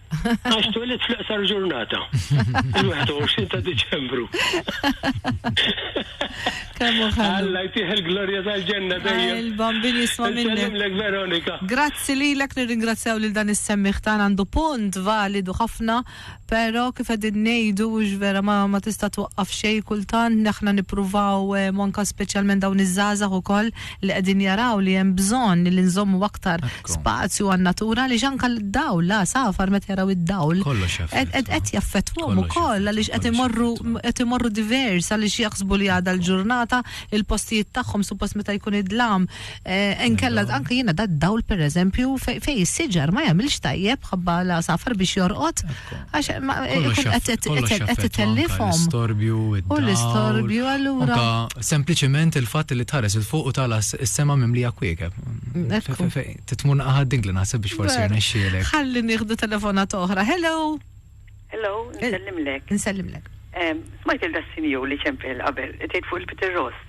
Għax twelidt fl-iqsar ġurnata. Il-21 ta' Diċembru. Kemmu ħallu. Alla jtieħ il-glorja tal-ġenna dejjem. Il-bambin jisma minnek. Nsellimlek Veronika. Grazzi li l-ek nirringrazzjaw lil dan is-semmiħ tan għandu punt validu ħafna, pero kif għedin nejdu ux vera ma, ma tista twaqqaf xej kultant, neħna nipruvaw eh, monka specialment dawn iż-żazah u koll li qegħdin jaraw li hemm bżonn li nżommu aktar spazju għan-natura għaliex anke d-dawl, l-għasafar meta jaraw id-dawl qed jaffettwahom ukoll għaliex qed imorru qed imorru divers għaliex jaħsbu li għadha l-ġurnata il-postijiet tagħhom suppost meta jkun id-dlam eh, inkella anke jiena dad-dawl pereżempju fejn is-siġar ma jagħmilx tajjeb ħabba l-għasafar biex jorqod Għax qed titellifhom. L-istorbju, u l-istorbju allura. Sempliċement il-fatt li tħares il fuq u tala s-sema mimlija kwiekeb. Titmun aħad ding li naħseb biex forsi rnexxielek. Ħalli nieħdu telefona toħra. Hello. Hello, nsellimlek. Nsellimlek. Smajt il-dassinju li ċempel qabel, tgħid fuq il-Peter Ross.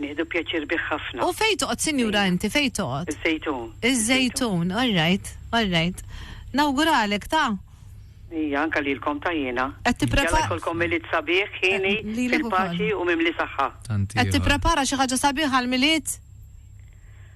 Nieħdu pjaċir bih ħafna. U fejn toqgħod sinjura inti, fejn toqgħod? Iż-Żejtun. Iż-Żejtun, all right, all right. Nawguralek ta. Ija, anke lilkom ta jiena. Qed tipprepara. Jalla jkollkom Milied sabiħ, hieni, fil-paċi u mimli saħħa. Tant ieħor. Qed tipprepara xi ħaġa sabiħa għall-Milied?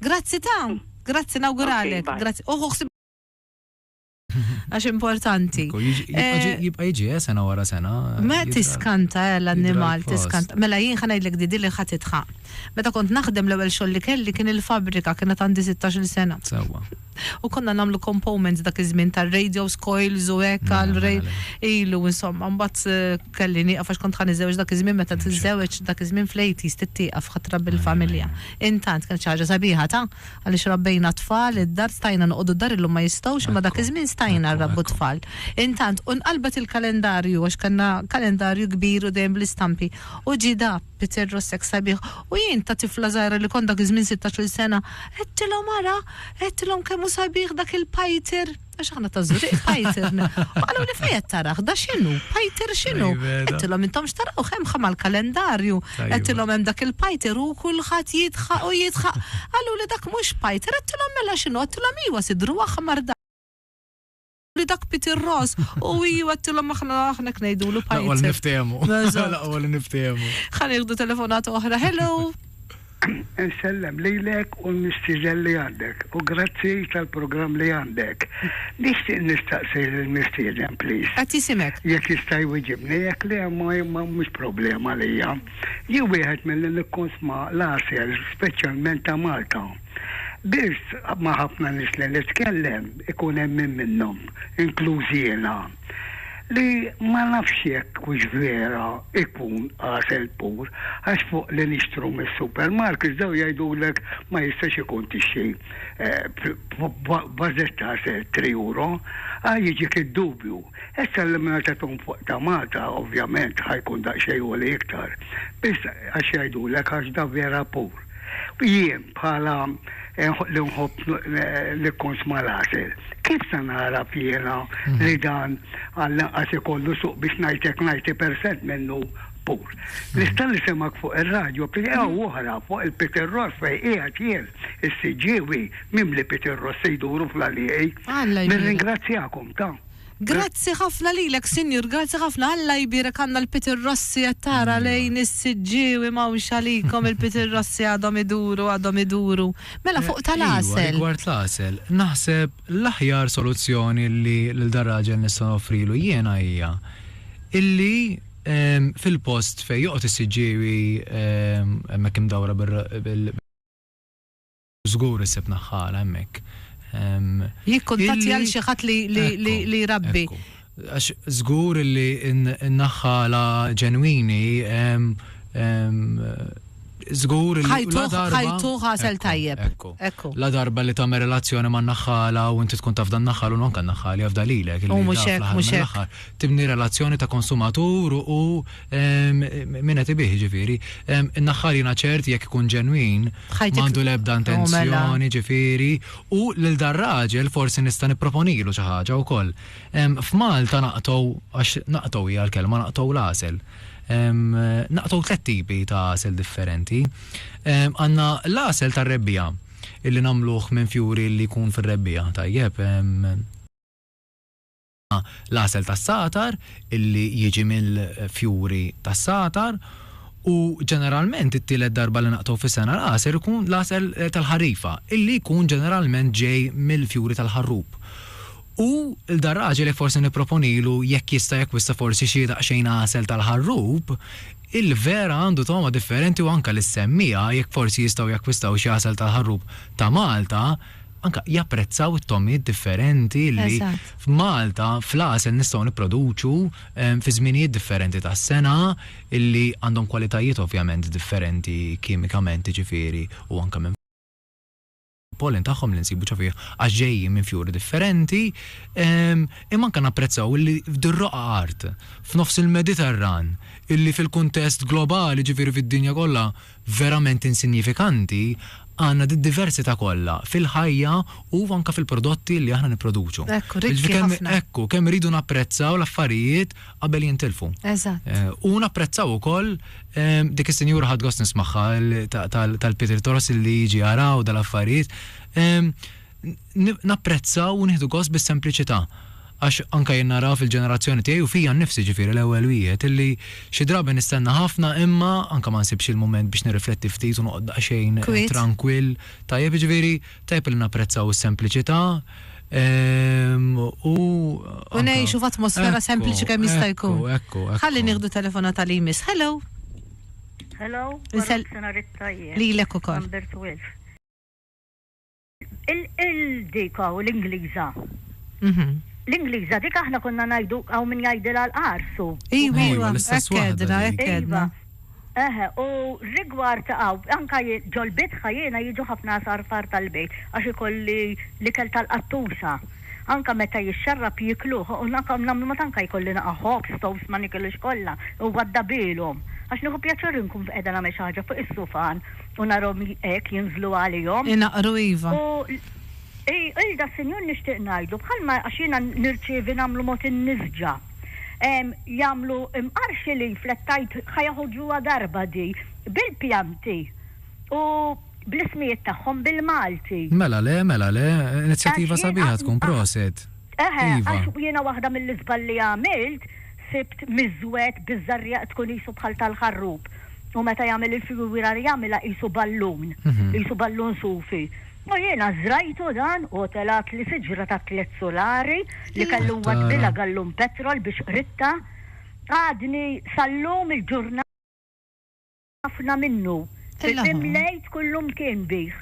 Grazzi ta', grazzi nawguralek. Okay, grazzi. Uħu oh, ħsib għax importanti. Eh, jibqa jiġi, eh, sena wara sena. Ma tiskanta eh, l-annimal, tiskanta. Mela jien ħanajdlek didi li ħat itħaq. Meta kont naħdem l-ewwel xogħol li kelli kien il-fabrika kienet għandi 16 sena. Sewwa. U konna nagħmlu components dak iż-żmien tar-radios, coils u hekk mela, għal mela, mela. ilu insomma mbagħad eh, kelli nieqaf għax kont ħa niżżewġ dak iż-żmien meta tiżżewġ dak iż-żmien fl-80s tittieqaf ħatra bil-familja. Intant kienet xi ħaġa sabiħa ta' għaliex rabbejna tfal id-dar stajna noqogħdu d-dar illum ma jistgħux imma dak iż-żmien stajna nrabbu tfal. Intant u nqalbet il-kalendarju għax kellna kalendarju kbir u dejjem bl-istampi u ġie da Peter Rossek sabiħ, u jien ta' tifla żgħira li kont dak iż-żmien sittax-il sena, għedtilhom ara, għedtilhom kemm hu sabiħ dak il-Peter, għax aħna ta' Żurrieq Peter n. U qaluli fejn qed tarah, da x'inhu, Peter x'inhu? Għedtilhom intom x'taraw, hemm ħa mal-kalendarju, għedtilhom hemm dak il-Peter u kulħadd jidħaq u jidħaq. Qaluli dak mhux Peter, għedtilhom mela x'inhu, għedtilhom iwa sidru aħmar dak. li dak Peter Ross u iju għattilom aħna aħna knejdulu pajjiż. Laqwa niftehmu. Laqwa li niftehmu. Ħan iħdu telefonata oħra. Hello. Nsellem lilek u l-mistiżel li għandek u grazzi tal-programm li għandek. Nixtieq nistaqsi l-mistiżen, please. Qed jisimek. Jekk jista' jwiġibni, jekk le ma mhux problema lija. Jien wieħed milli nikkonsma l-għasel, speċjalment ta' Malta. Biss ma' ħafna nies li nitkellem ikun hemm min minnhom, inkluż jiena, li ma nafx jekk hux vera jkun għasel pur għax fuq li nixtru mis-supermarkets dawn jgħidulek ma jistax ikun tixtri vażett ta' għasel tri uro, a jiġik id-dubju. Issa li mela tagħthom fuq tamata ovvjament ħa jkun daqsxejn għoli iktar, biss għax jgħidulek għax da vera pur. Jien bħala li nħobb nikkunsma l-għasel, kif se nagħraf jiena li dan għall-inqas ikollu suq biex ngħidlek 90 percent minnu pur? Nista' nisimgħek fuq ir-radju b'tieqa u oħra fuq il-pitirros fejn qiegħed jien is-siġġiewi mimli pitirros se jduru fl-għalieqi. Nirringrazzjakom ta. Grazzi ħafna lilek sinjur grazzi ħafna Alla jbierek għandna l-Peter Rossi qed tara lejn is-siġġiewi m'hawnx għalikom il-Peter Rossi għadhom iduru għadhom iduru. Mela fuq tal għasel. Iva rigward l-għasel naħseb l-aħjar soluzzjoni li lil dan raġel nista' noffrilu jiena hija illi fil-post fejn joqgħod is-siġġiewi hemmhekk imdawra bil Żgur issib naħħala hemmhekk. Jikkuntattja lil xi ħadd li jrabbi. Ekku. Għax żgur li n-naħħala ġenwini żgur li la darba. Ħajtu ħasel tajjeb. Ekku. Ekku. La darba li tagħmel relazzjoni man-naħħala u inti tkun taf dan-naħħal u non kan-naħħal jafda lilek. U mhux hekk, mhux hekk. Tibni relazzjoni ta' konsumatur u Min qed ibigħ, jiġifieri. In-naħħar jiena ċert jekk ikun ġenwin m'għandu l-ebda intenzjoni, jiġifieri, u lil dar-raġel forsi nista' nipproponilu xi ħaġa wkoll. F'Malta naqtgħu, għax naqtgħu hija l-kelma, naqtgħu l-għasel. Naqtgħu tliet tipi ta' għasel differenti. Għandna l-għasel tar-rebbiegħa, illi nagħmluh minn fjuri li jkun fir-rebbiegħa, tajjeb. l-għasel tas-sagħtar illi jiġi mill-fjuri tas-sagħtar u ġeneralment it-tielet darba li naqtgħu fis-sena l-għasel ikun l-għasel tal-ħarifa illi jkun ġeneralment ġej mill-fjuri tal-ħarrub. U 'l dan raġel jekk forsi nipproponilu jekk jista' jakkwista forsi xi daqsxejn għasel tal-ħarrub, il-vera għandu togħma differenti u anke lis-semmiegħa jekk forsi jistgħu jakkwistaw xi għasel tal-ħarrub ta' Malta, anke japprezzaw it-togħmiet differenti li f'Malta, fl-għasel nistgħu nipproduċu fi żminijiet differenti tas-sena li għandhom kwalitajiet ovvjament differenti kimikament jiġifieri u anke minn pollen tagħhom li nsibu ġo fih għax ġejjin minn fjuri differenti imma anke napprezzaw li f'dir-roqgħa art f'nofs il-Mediterran illi fil-kuntest globali jiġifieri fid-dinja kollha verament insinjifikanti għandna did-diversità kollha fil-ħajja u anke fil-prodotti li aħna nipproduċu. Hekk, rikki ħafna. Hekk hu, kemm irridu napprezzaw l-affarijiet qabel jintilfu. Eżatt. U napprezzaw ukoll dik is-sinjura ħadt gost nismagħha tal-Pietri Toros li jiġi jara u dal-affarijiet. napprezza u nieħdu gost bis-sempliċità. Għax anke jien nara fil-ġenerazzjoni tiegħi u fija nnifsi ġifieri l-ewwel wieħed illi xi drabi nistenna ħafna imma anke ma nsibx il-mument biex nirrifletti ftit u noqgħod daqsxejn trankwill. Tajjeb, jiġifieri tajjeb illi napprezzaw is-sempliċità u anke. U ngħixu f'atmosfera sempliċi kemm jista' jkun. Ekku, ekku, ekku. Ħalli nieħdu telefonata li jmiss. Hello. Hello. Wara nofsinhar it-tajjeb. Lilek ukoll. Number 12. Il-dika u l-Ingliża. L-Ingliża dik aħna konna ngħidu hawn min jgħidilha l-qarsu. Iva, iva, l-istess waħda. Hekk għedna, hekk għedna. Eħe, u rigward hawn, anke ġol-bitħa jiena jiġu ħafna għasarfar tal-bejt għax ikolli l-ikel tal-qattusa. Anke meta jixxarrab jiekluh u anke nagħmlu mod anke jkolli naqa' ħobż, toast ma nikilux kollha, huwa ddabilhom. Għax nieħu pjaċir inkun qiegħda nagħmel xi ħaġa fuq is-sufan. U narhom hekk jinżlu għalihom. Inaqru iva. U lda s-Sinjur nixtieq ngħidlu, bħalma għax jiena nirċievi nagħmlu mod in-nisġa. Jagħmlu mqarrx li flettajt ħa joħorġuha darba di, bil-pjanti u bl-ismijiet tagħhom bil-Malti. Mela le, mela le. Inizjattiva sabiħa tkun, proset. Eħe, għax jiena waħda mill-iżball li għamilt, sibt miżwed biż-żarriegħ tkun qisu bħal tal-ħarrub, u meta jagħmel il-figura jagħmilha qisu ballun, qisu ballun sufi. U jiena żrajtu dan u telgħatli siġra ta' tliet sulari li kellu nwaddilha gallun petrol biex qridtha. Għadni sal-lum il-ġurnata. ħafna minnu. Fil-qim l-Għid kullu mkien bih.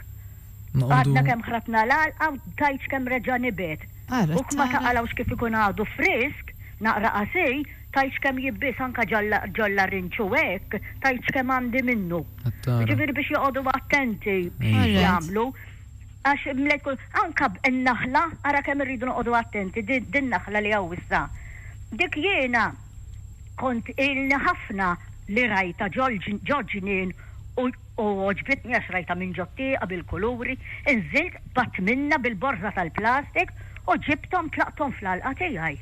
Għadna kemm ħratna l-għalqa u tajt x'kemm reġa' nibet. Huk ma taqalgħux kif ikun għadu frisk, naqra qasij, tajt x'kemm jibbies anke ġol-larinġ u hekk tajt x'kemm għandi minnu. Jiġifieri biex joqogħdu attenti b'xiex jagħmlu għax mlejt kull. Anke n-naħla ara kemm irridu noqogħdu attenti, din naħla li hawn issa. Dik jiena. Kont ilni ħafna li rajtha ġol-ġnien u għoġbitni għax rajtha minn ġot-tieqa bil-kuluri. Inżilt b'għadd minnha bil-borża tal-plastik u ġibthom tlaqthom fl-għalqa tiegħi.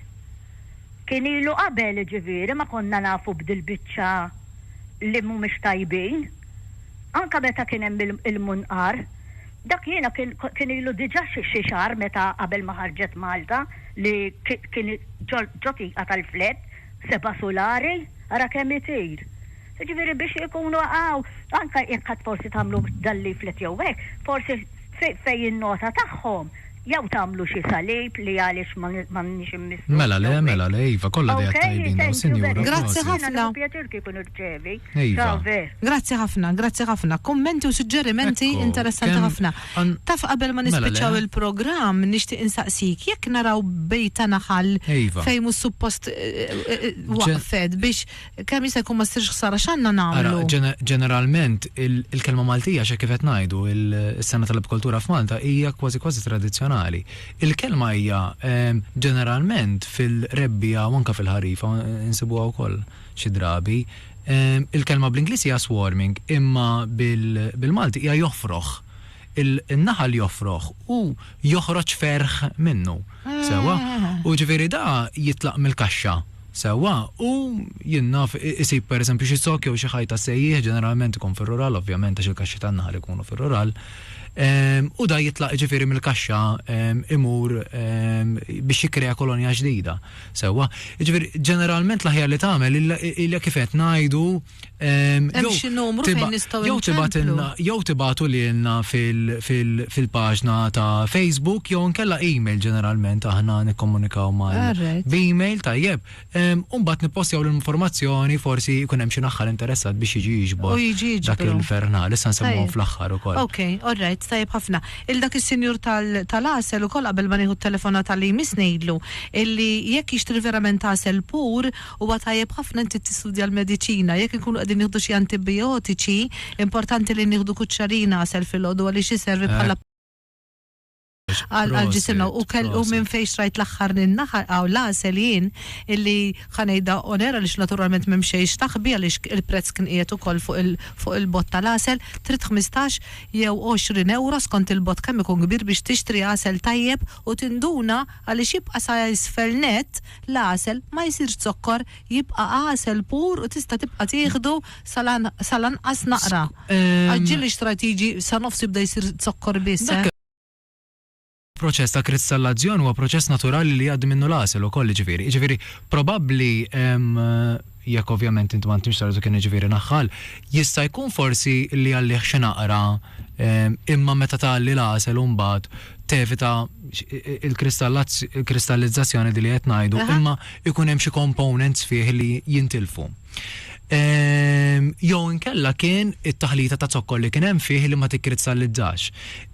Kien ilu qabel jiġifieri ma konna nafu b'dil-biċċa li mhumiex tajbin. Anke meta kien hemm il-munqar. Dak jiena kien kien ilu diġà xi xi xahar meta qabel ma ħarġet Malta li kien ġo ġo tieqa tal-flat seba' sulari, ara kemm itir! Jiġifieri biex ikunu hawn anke jekk għad forsi tagħmlu dan leaflet jew hekk, forsi fejn in-nota tagħhom Jew tagħmlu xi salib li għaliex m'għandniex immissu l-ġewwek. Mela le, mela le, iva, kollha ideat tajbin dawn, Sinjura, prosit. Iva. Grazzi ħafna, grazzi ħafna. Kummenti u suġġerimenti interessanti ħafna. Taf qabel ma nispiċċaw il-programm nixtieq insaqsik, jekk naraw bejta naħal fejn mhux suppost waqfet biex, kemm jista' jkun ma ssirx ħsara x'għandna nagħmlu? Ara, ġeneralment il-kelma Maltija xi kif qed ngħidu, is-sena tal-apikoltura f'Malta hija kważi kważi tradizzjonali. Il-kelma hija ehm, ġeneralment fil-rebbija u anke fil-ħarifa insibuha wkoll xi drabi. Ehm, il-kelma bl-Ingliż hija swarming, imma bil-Malti hija joħfroħ. il-naħal joffroh u joħroġ ferħ minnu, sewwa? U ġifieri da jitlaq mill-kaxxa, sewwa? U jien naf isib pereżempju xi zokk jew xi ħaj tas-sejjieħ, ġeneralment ikun fir-rural ovvjament għax il-kaxxi tan-naħal ikunu fir-rural, u da jitlaq ġifieri mill-kaxxa imur biex jikkrea kolonja ġdida, sewwa? Jiġifieri ġeneralment l-aħjar li tagħmel hija kif qed ngħidu, Ehm, Hemm xi numru fejn nistgħu Jew tibatilna jew tibatu lilna fil-paġna ta' Facebook jew nkella email ġeneralment aħna nikkomunikaw mal b'email tajjeb. Ehm, u mbagħad nippostjaw l-informazzjoni forsi jkun hemm xi naħħal interessat biex jiġi jiġbor dak il-fernal issa nsemmuhom fl-aħħar ukoll. Ok, all right, tajjeb ħafna. Il dak is-sinjur tal-asel ukoll qabel ma nieħu t-telefona tal-li jmiss ngħidlu illi jekk jixtri verament asel pur Huwa tajjeb ħafna inti tistudja l-mediċina. Jekk inkunu qegħdin nieħdu xi antibijotiċi, importanti li nieħdu kuċċarina għasel filgħodu għaliex iservi bħala għal ġisimna. U kell u minn fejn xtrajt l-aħħar in-naħa aw l-għasel jien illi ħa ngħidha on air għaliex naturalment m'hemm xejn x'taħbi għaliex il-prezz kien qiegħed ukoll fuq il fuq il-bott tal-għasel, trid ħmistax jew għoxrin ewro skont il-bott kemm ikun kbir biex tixtri għasel tajjeb u tinduna għaliex jibqa' sa isfel nett. L-għasel ma jsirx zokkor, jibqa' għasel pur u tista' tibqa' tieħdu sa lanqas naqra. Għaġġil li xtrajt jiġi sa nofs jibda jsir zokkor biss, eh. Proċess ta' kristallazzjon huwa proċess naturali li jgħaddi minnu l-għasel ukoll jiġifieri. Jiġifieri probabbli hemm. jekk ovvjament int m'għandkx sar zucchini jiġifieri naħħal, jista' jkun forsi li għalih xi naqra imma meta tgħalli l-għasel u mbagħad tevita l-kristallizzazzjoni di li qed ngħidu imma jkun hemm xi components fih li jintilfu. Jew inkella kien it-taħlita ta' zokkor li kien hemm fih li ma tikkrizzallizzax.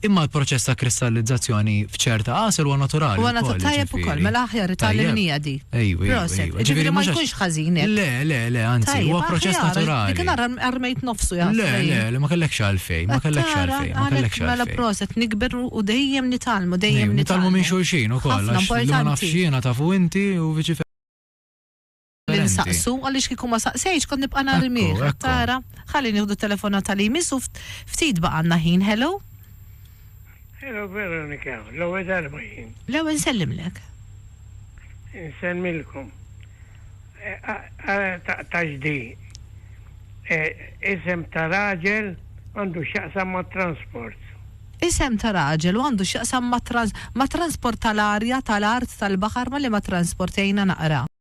Imma l-proċess ta' kristallizzazzjoni f'ċerta għasel huwa naturali. Huwa naturali tajjeb ukoll, mela aħjar itallimnija di. Ejwi. Proset. Ġifieri ma jkunx ħażin. Le, le, le, anzi, huwa proċess naturali. Dik nara armejt nofsu jgħid. Le, le, le, ma kellekx għalfejn, ma kellekx għalfejn, ma kellekx għalfejn. Mela proset nikber u dejjem nitalmu, dejjem nitalmu minn xulxin ukoll. Ħafna importanti. Ma nafx jiena tafu inti u viċi li nsaqsu għaliex kieku ma saqsejtx kont nibqa' nhar il-miegħ. Tara, ħalli nieħdu t-telefonata li jmiss u ftit baqgħanna ħin. Hello? Hello Veronika, l-ewwel darba jien. L-ewwel nsellimlek. Nsemmilkom. Eh, Taġdi. Eh, isem ta' raġel għandu x'jaqsam ma' transport. Isem ta' raġel u għandu x'jaqsam ma' transport tal-arja, tal-art, tal-baħar ma' li ma' transport jgħina naqra.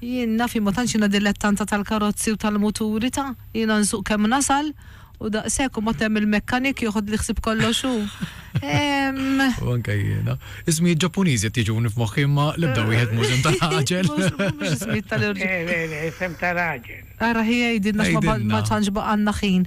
Jien naf jien ma tantx jiena dilettanta tal-karozzi u tal-muturi ta', jiena nsuq kemm nasal u daqshekk u mbagħad hemm il-mekkanik joħodli ħsieb kollox hu. Ehm. U anke jiena. Ismijiet Ġappuniżi qed jiġuni f'moħħi imma l-ebda wieħed mhux isem ta' raġel. Mhux mhux ismijiet tal-irġ. Le le le isem ta' raġel. Ara ħi għidilna għax ma tantx baqgħalna ħin.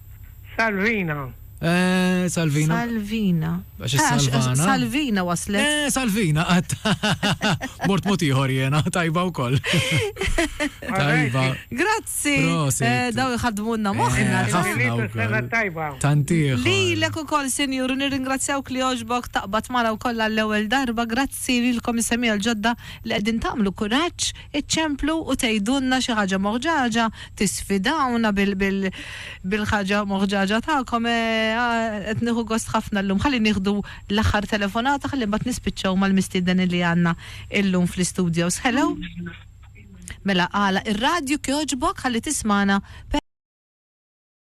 Salvina. Eh, Salvina. Salvina. Għax eh, salvana. Salvina waslet. Eh, Salvina, għat. Mort mot iħor jena, tajba u koll. Tajba. Grazzi. Eh, daw jħadmunna moħna. Eh, tajba. Tantiħ. Li l-ek u koll, senjur, nirringrazzjawk li oġbok taqbat mara u koll għall-ewel darba. Grazzi li l-komissemija l-ġodda li għedin tamlu kuraċ Iċċemplu u tgħidulna xi ħaġa moħġaġa, tisfidawna bil-ħaġa moħġaġa tagħkom. Qed nieħu gost ħafna llum. Ħalli nieħdu l-aħħar telefonata ħalli mbagħad nispiċċaw mal-mistieden illi għandna llum fl-istudios. Hello? Mela agħlaq ir-radju kjoġbok ħalli tismagħna.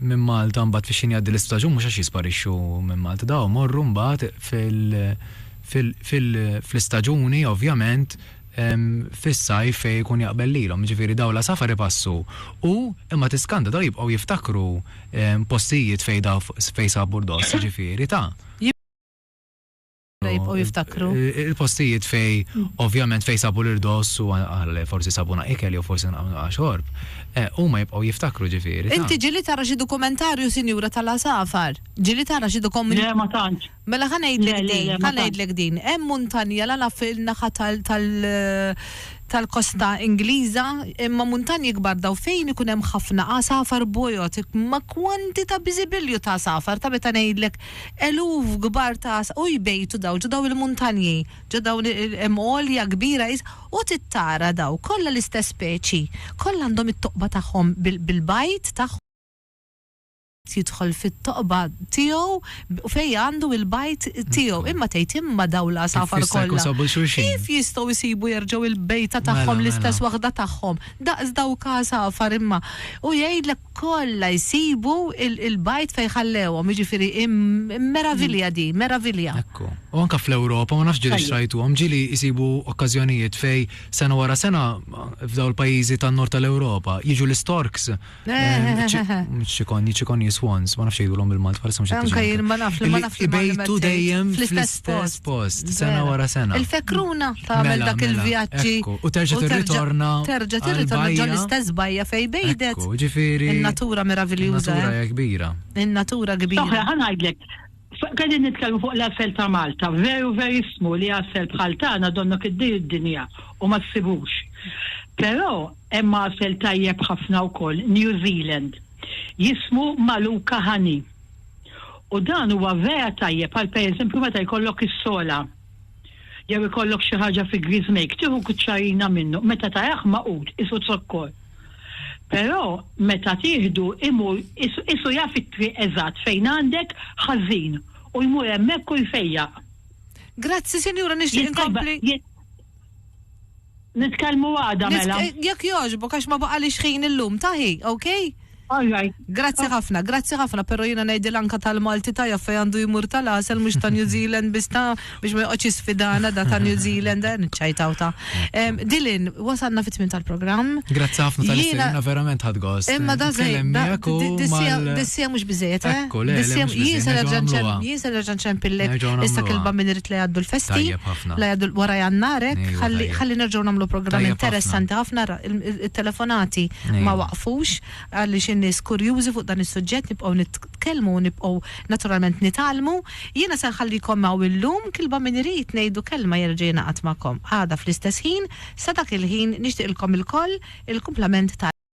minn Malta mbagħad fix-xien jgħaddi l-istaġun mhux għax jisparixxu minn Malta dawn imorru mbagħad fl-istaġuni ovvjament fis-sajf fejn ikun jaqbel lilhom jiġifieri dawn l-għasafar ipassu u imma tiskanta dawn jibqgħu jiftakru postijiet fejn sabu r-ross jiġifieri ta' jibqgħu jiftakru. Il-postijiet fej, ovvjament fej sabu l-irdoss u għal forsi sabuna ikel jew forsi naqamna xorb, eh, huma jibqgħu jiftakru ġifieri. Inti ġili tara xi dokumentarju sinjura tal-għasafar? Ġili tara xi dokumentarju? Le ma tantx. Mela ħa ngħidlek din, ħa ngħidlek din. Hemm muntanja la naf il-naħa tal-kosta Ingliża, imma muntanji kbar daw fejn ikun hemm ħafna għasafar bojot, ma kwantita biżibilju ta' għasafar ta' meta ngħidlek Eluf kbar ta' għasafir jbejtu dawl ġo dawn il-muntanji, ġo dawn il-hemm għolja kbira is. U tittara daw kollha l-istess speċi. Kollha għandhom it-toqba tagħhom bil-bajd tagħhom. Kulħadd jidħol fit-toqba tiegħu u fejn għandu il-bajd tiegħu. Imma tgħid, imma dawn l-għasafar kollha, kif jistgħu jsibu jerġgħu l-bejta tagħhom, l-istess waħda tagħhom, daqs dawk għasafar imma? U jgħidlek. kollha jsibu l-bajt fejn ħallewhom, jiġifieri meravilja din, meravilja. Ekku. U anke fl-Ewropa, ma nafx ġieli xrajtuhom, ġieli jsibu okkażjonijiet fejn sena wara sena f'dawn il-pajjiżi tan-Nord tal-Ewropa jiġu l-istorks, ċikonji, ċikonji swans, ma nafx jgħidulhom bil-Malti, bħalissa mhux qed niġi. Anke jien ma nafx, ma nafx. Ibejtu dejjem fl-istess. Stess post, sena wara sena. Il-fekruna ta' mela, dak mela, il-vjaġġi. U terġa' tirritorna. Terġa' tirritorna ġol istess bajja fej bejdet. Ġifieri. Il-natura meraviljuża. Il-natura eh. kbira. Il-natura kbira. Oħra, ħanajdlek. Għedin nitkellmu fuq l-asel ta' Malta, veru verismu li asel bħal tagħna donnok id-dir id-dinja u ma ssibux. Però hemm asel tajjeb ħafna wkoll New Zealand. Jismu Maluka Honey. U dan huwa vera tajjeb għal pereżempju meta jkollok is-sola jew ikollok xi ħaġa fi griżmejk, tieħu kuċċarina minnu, meta tarah magħqud qisu zokkor. Però meta tieħdu imur qisu jaf it-triq eżatt fejn għandek ħażin u jmur hemmhekk u jfejjaq. Grazzi sinjura nixtieq inkompli. Nitkellmu għada mela. Jekk jogħġbok għax ma baqalix ħin illum taħi, okay? All right. Grazzi ħafna, grazzi ħafna, pero jiena ngħidilha anka tal-Malti tajjeb fejn għandu jmur tal-għasel mhux ta' New Zealand biss ta' biex ma joqgħodx jisfidana da ta' New Zealand eh, niċċajtaw ta'. Em, Dilin, wasalna fit-tmien tal-programm. Grazzi ħafna tal Jiena- Jiena verament ħad gost. Imma da zej, Nitkellem da- miegħek u di- dissija mal- dissija mhux biżejjed, eh? Ekku, le, le, Dissija- mhux biżejjed, Jien se nerġa' nerġa' nagħmluha. nċem- jien se nerġa' nċempillek Nerġgħu issa nagħmluha. kilba minn irid li għaddu l-festi. Tajjeb ħafna. La jadul wara jannarek, Ejwa, ħalli tajjeb. ħalli nerġgħu nagħmlu programm Tajjeb interessanti ħafna ra- il- il- it-telefonati ma Ejwa. waqfux għaliex in-nies kurjużi fuq dan is-suġġett nibqgħu nitkellmu u nibqgħu naturalment nitgħallmu. Jiena se nħallikom hawn illum kilba min irid ngħidu kelma jerġa' jingħaqad magħkom għada fl-istess ħin sa dak il-ħin nixtieqilkom ilkoll il-kumplament ta'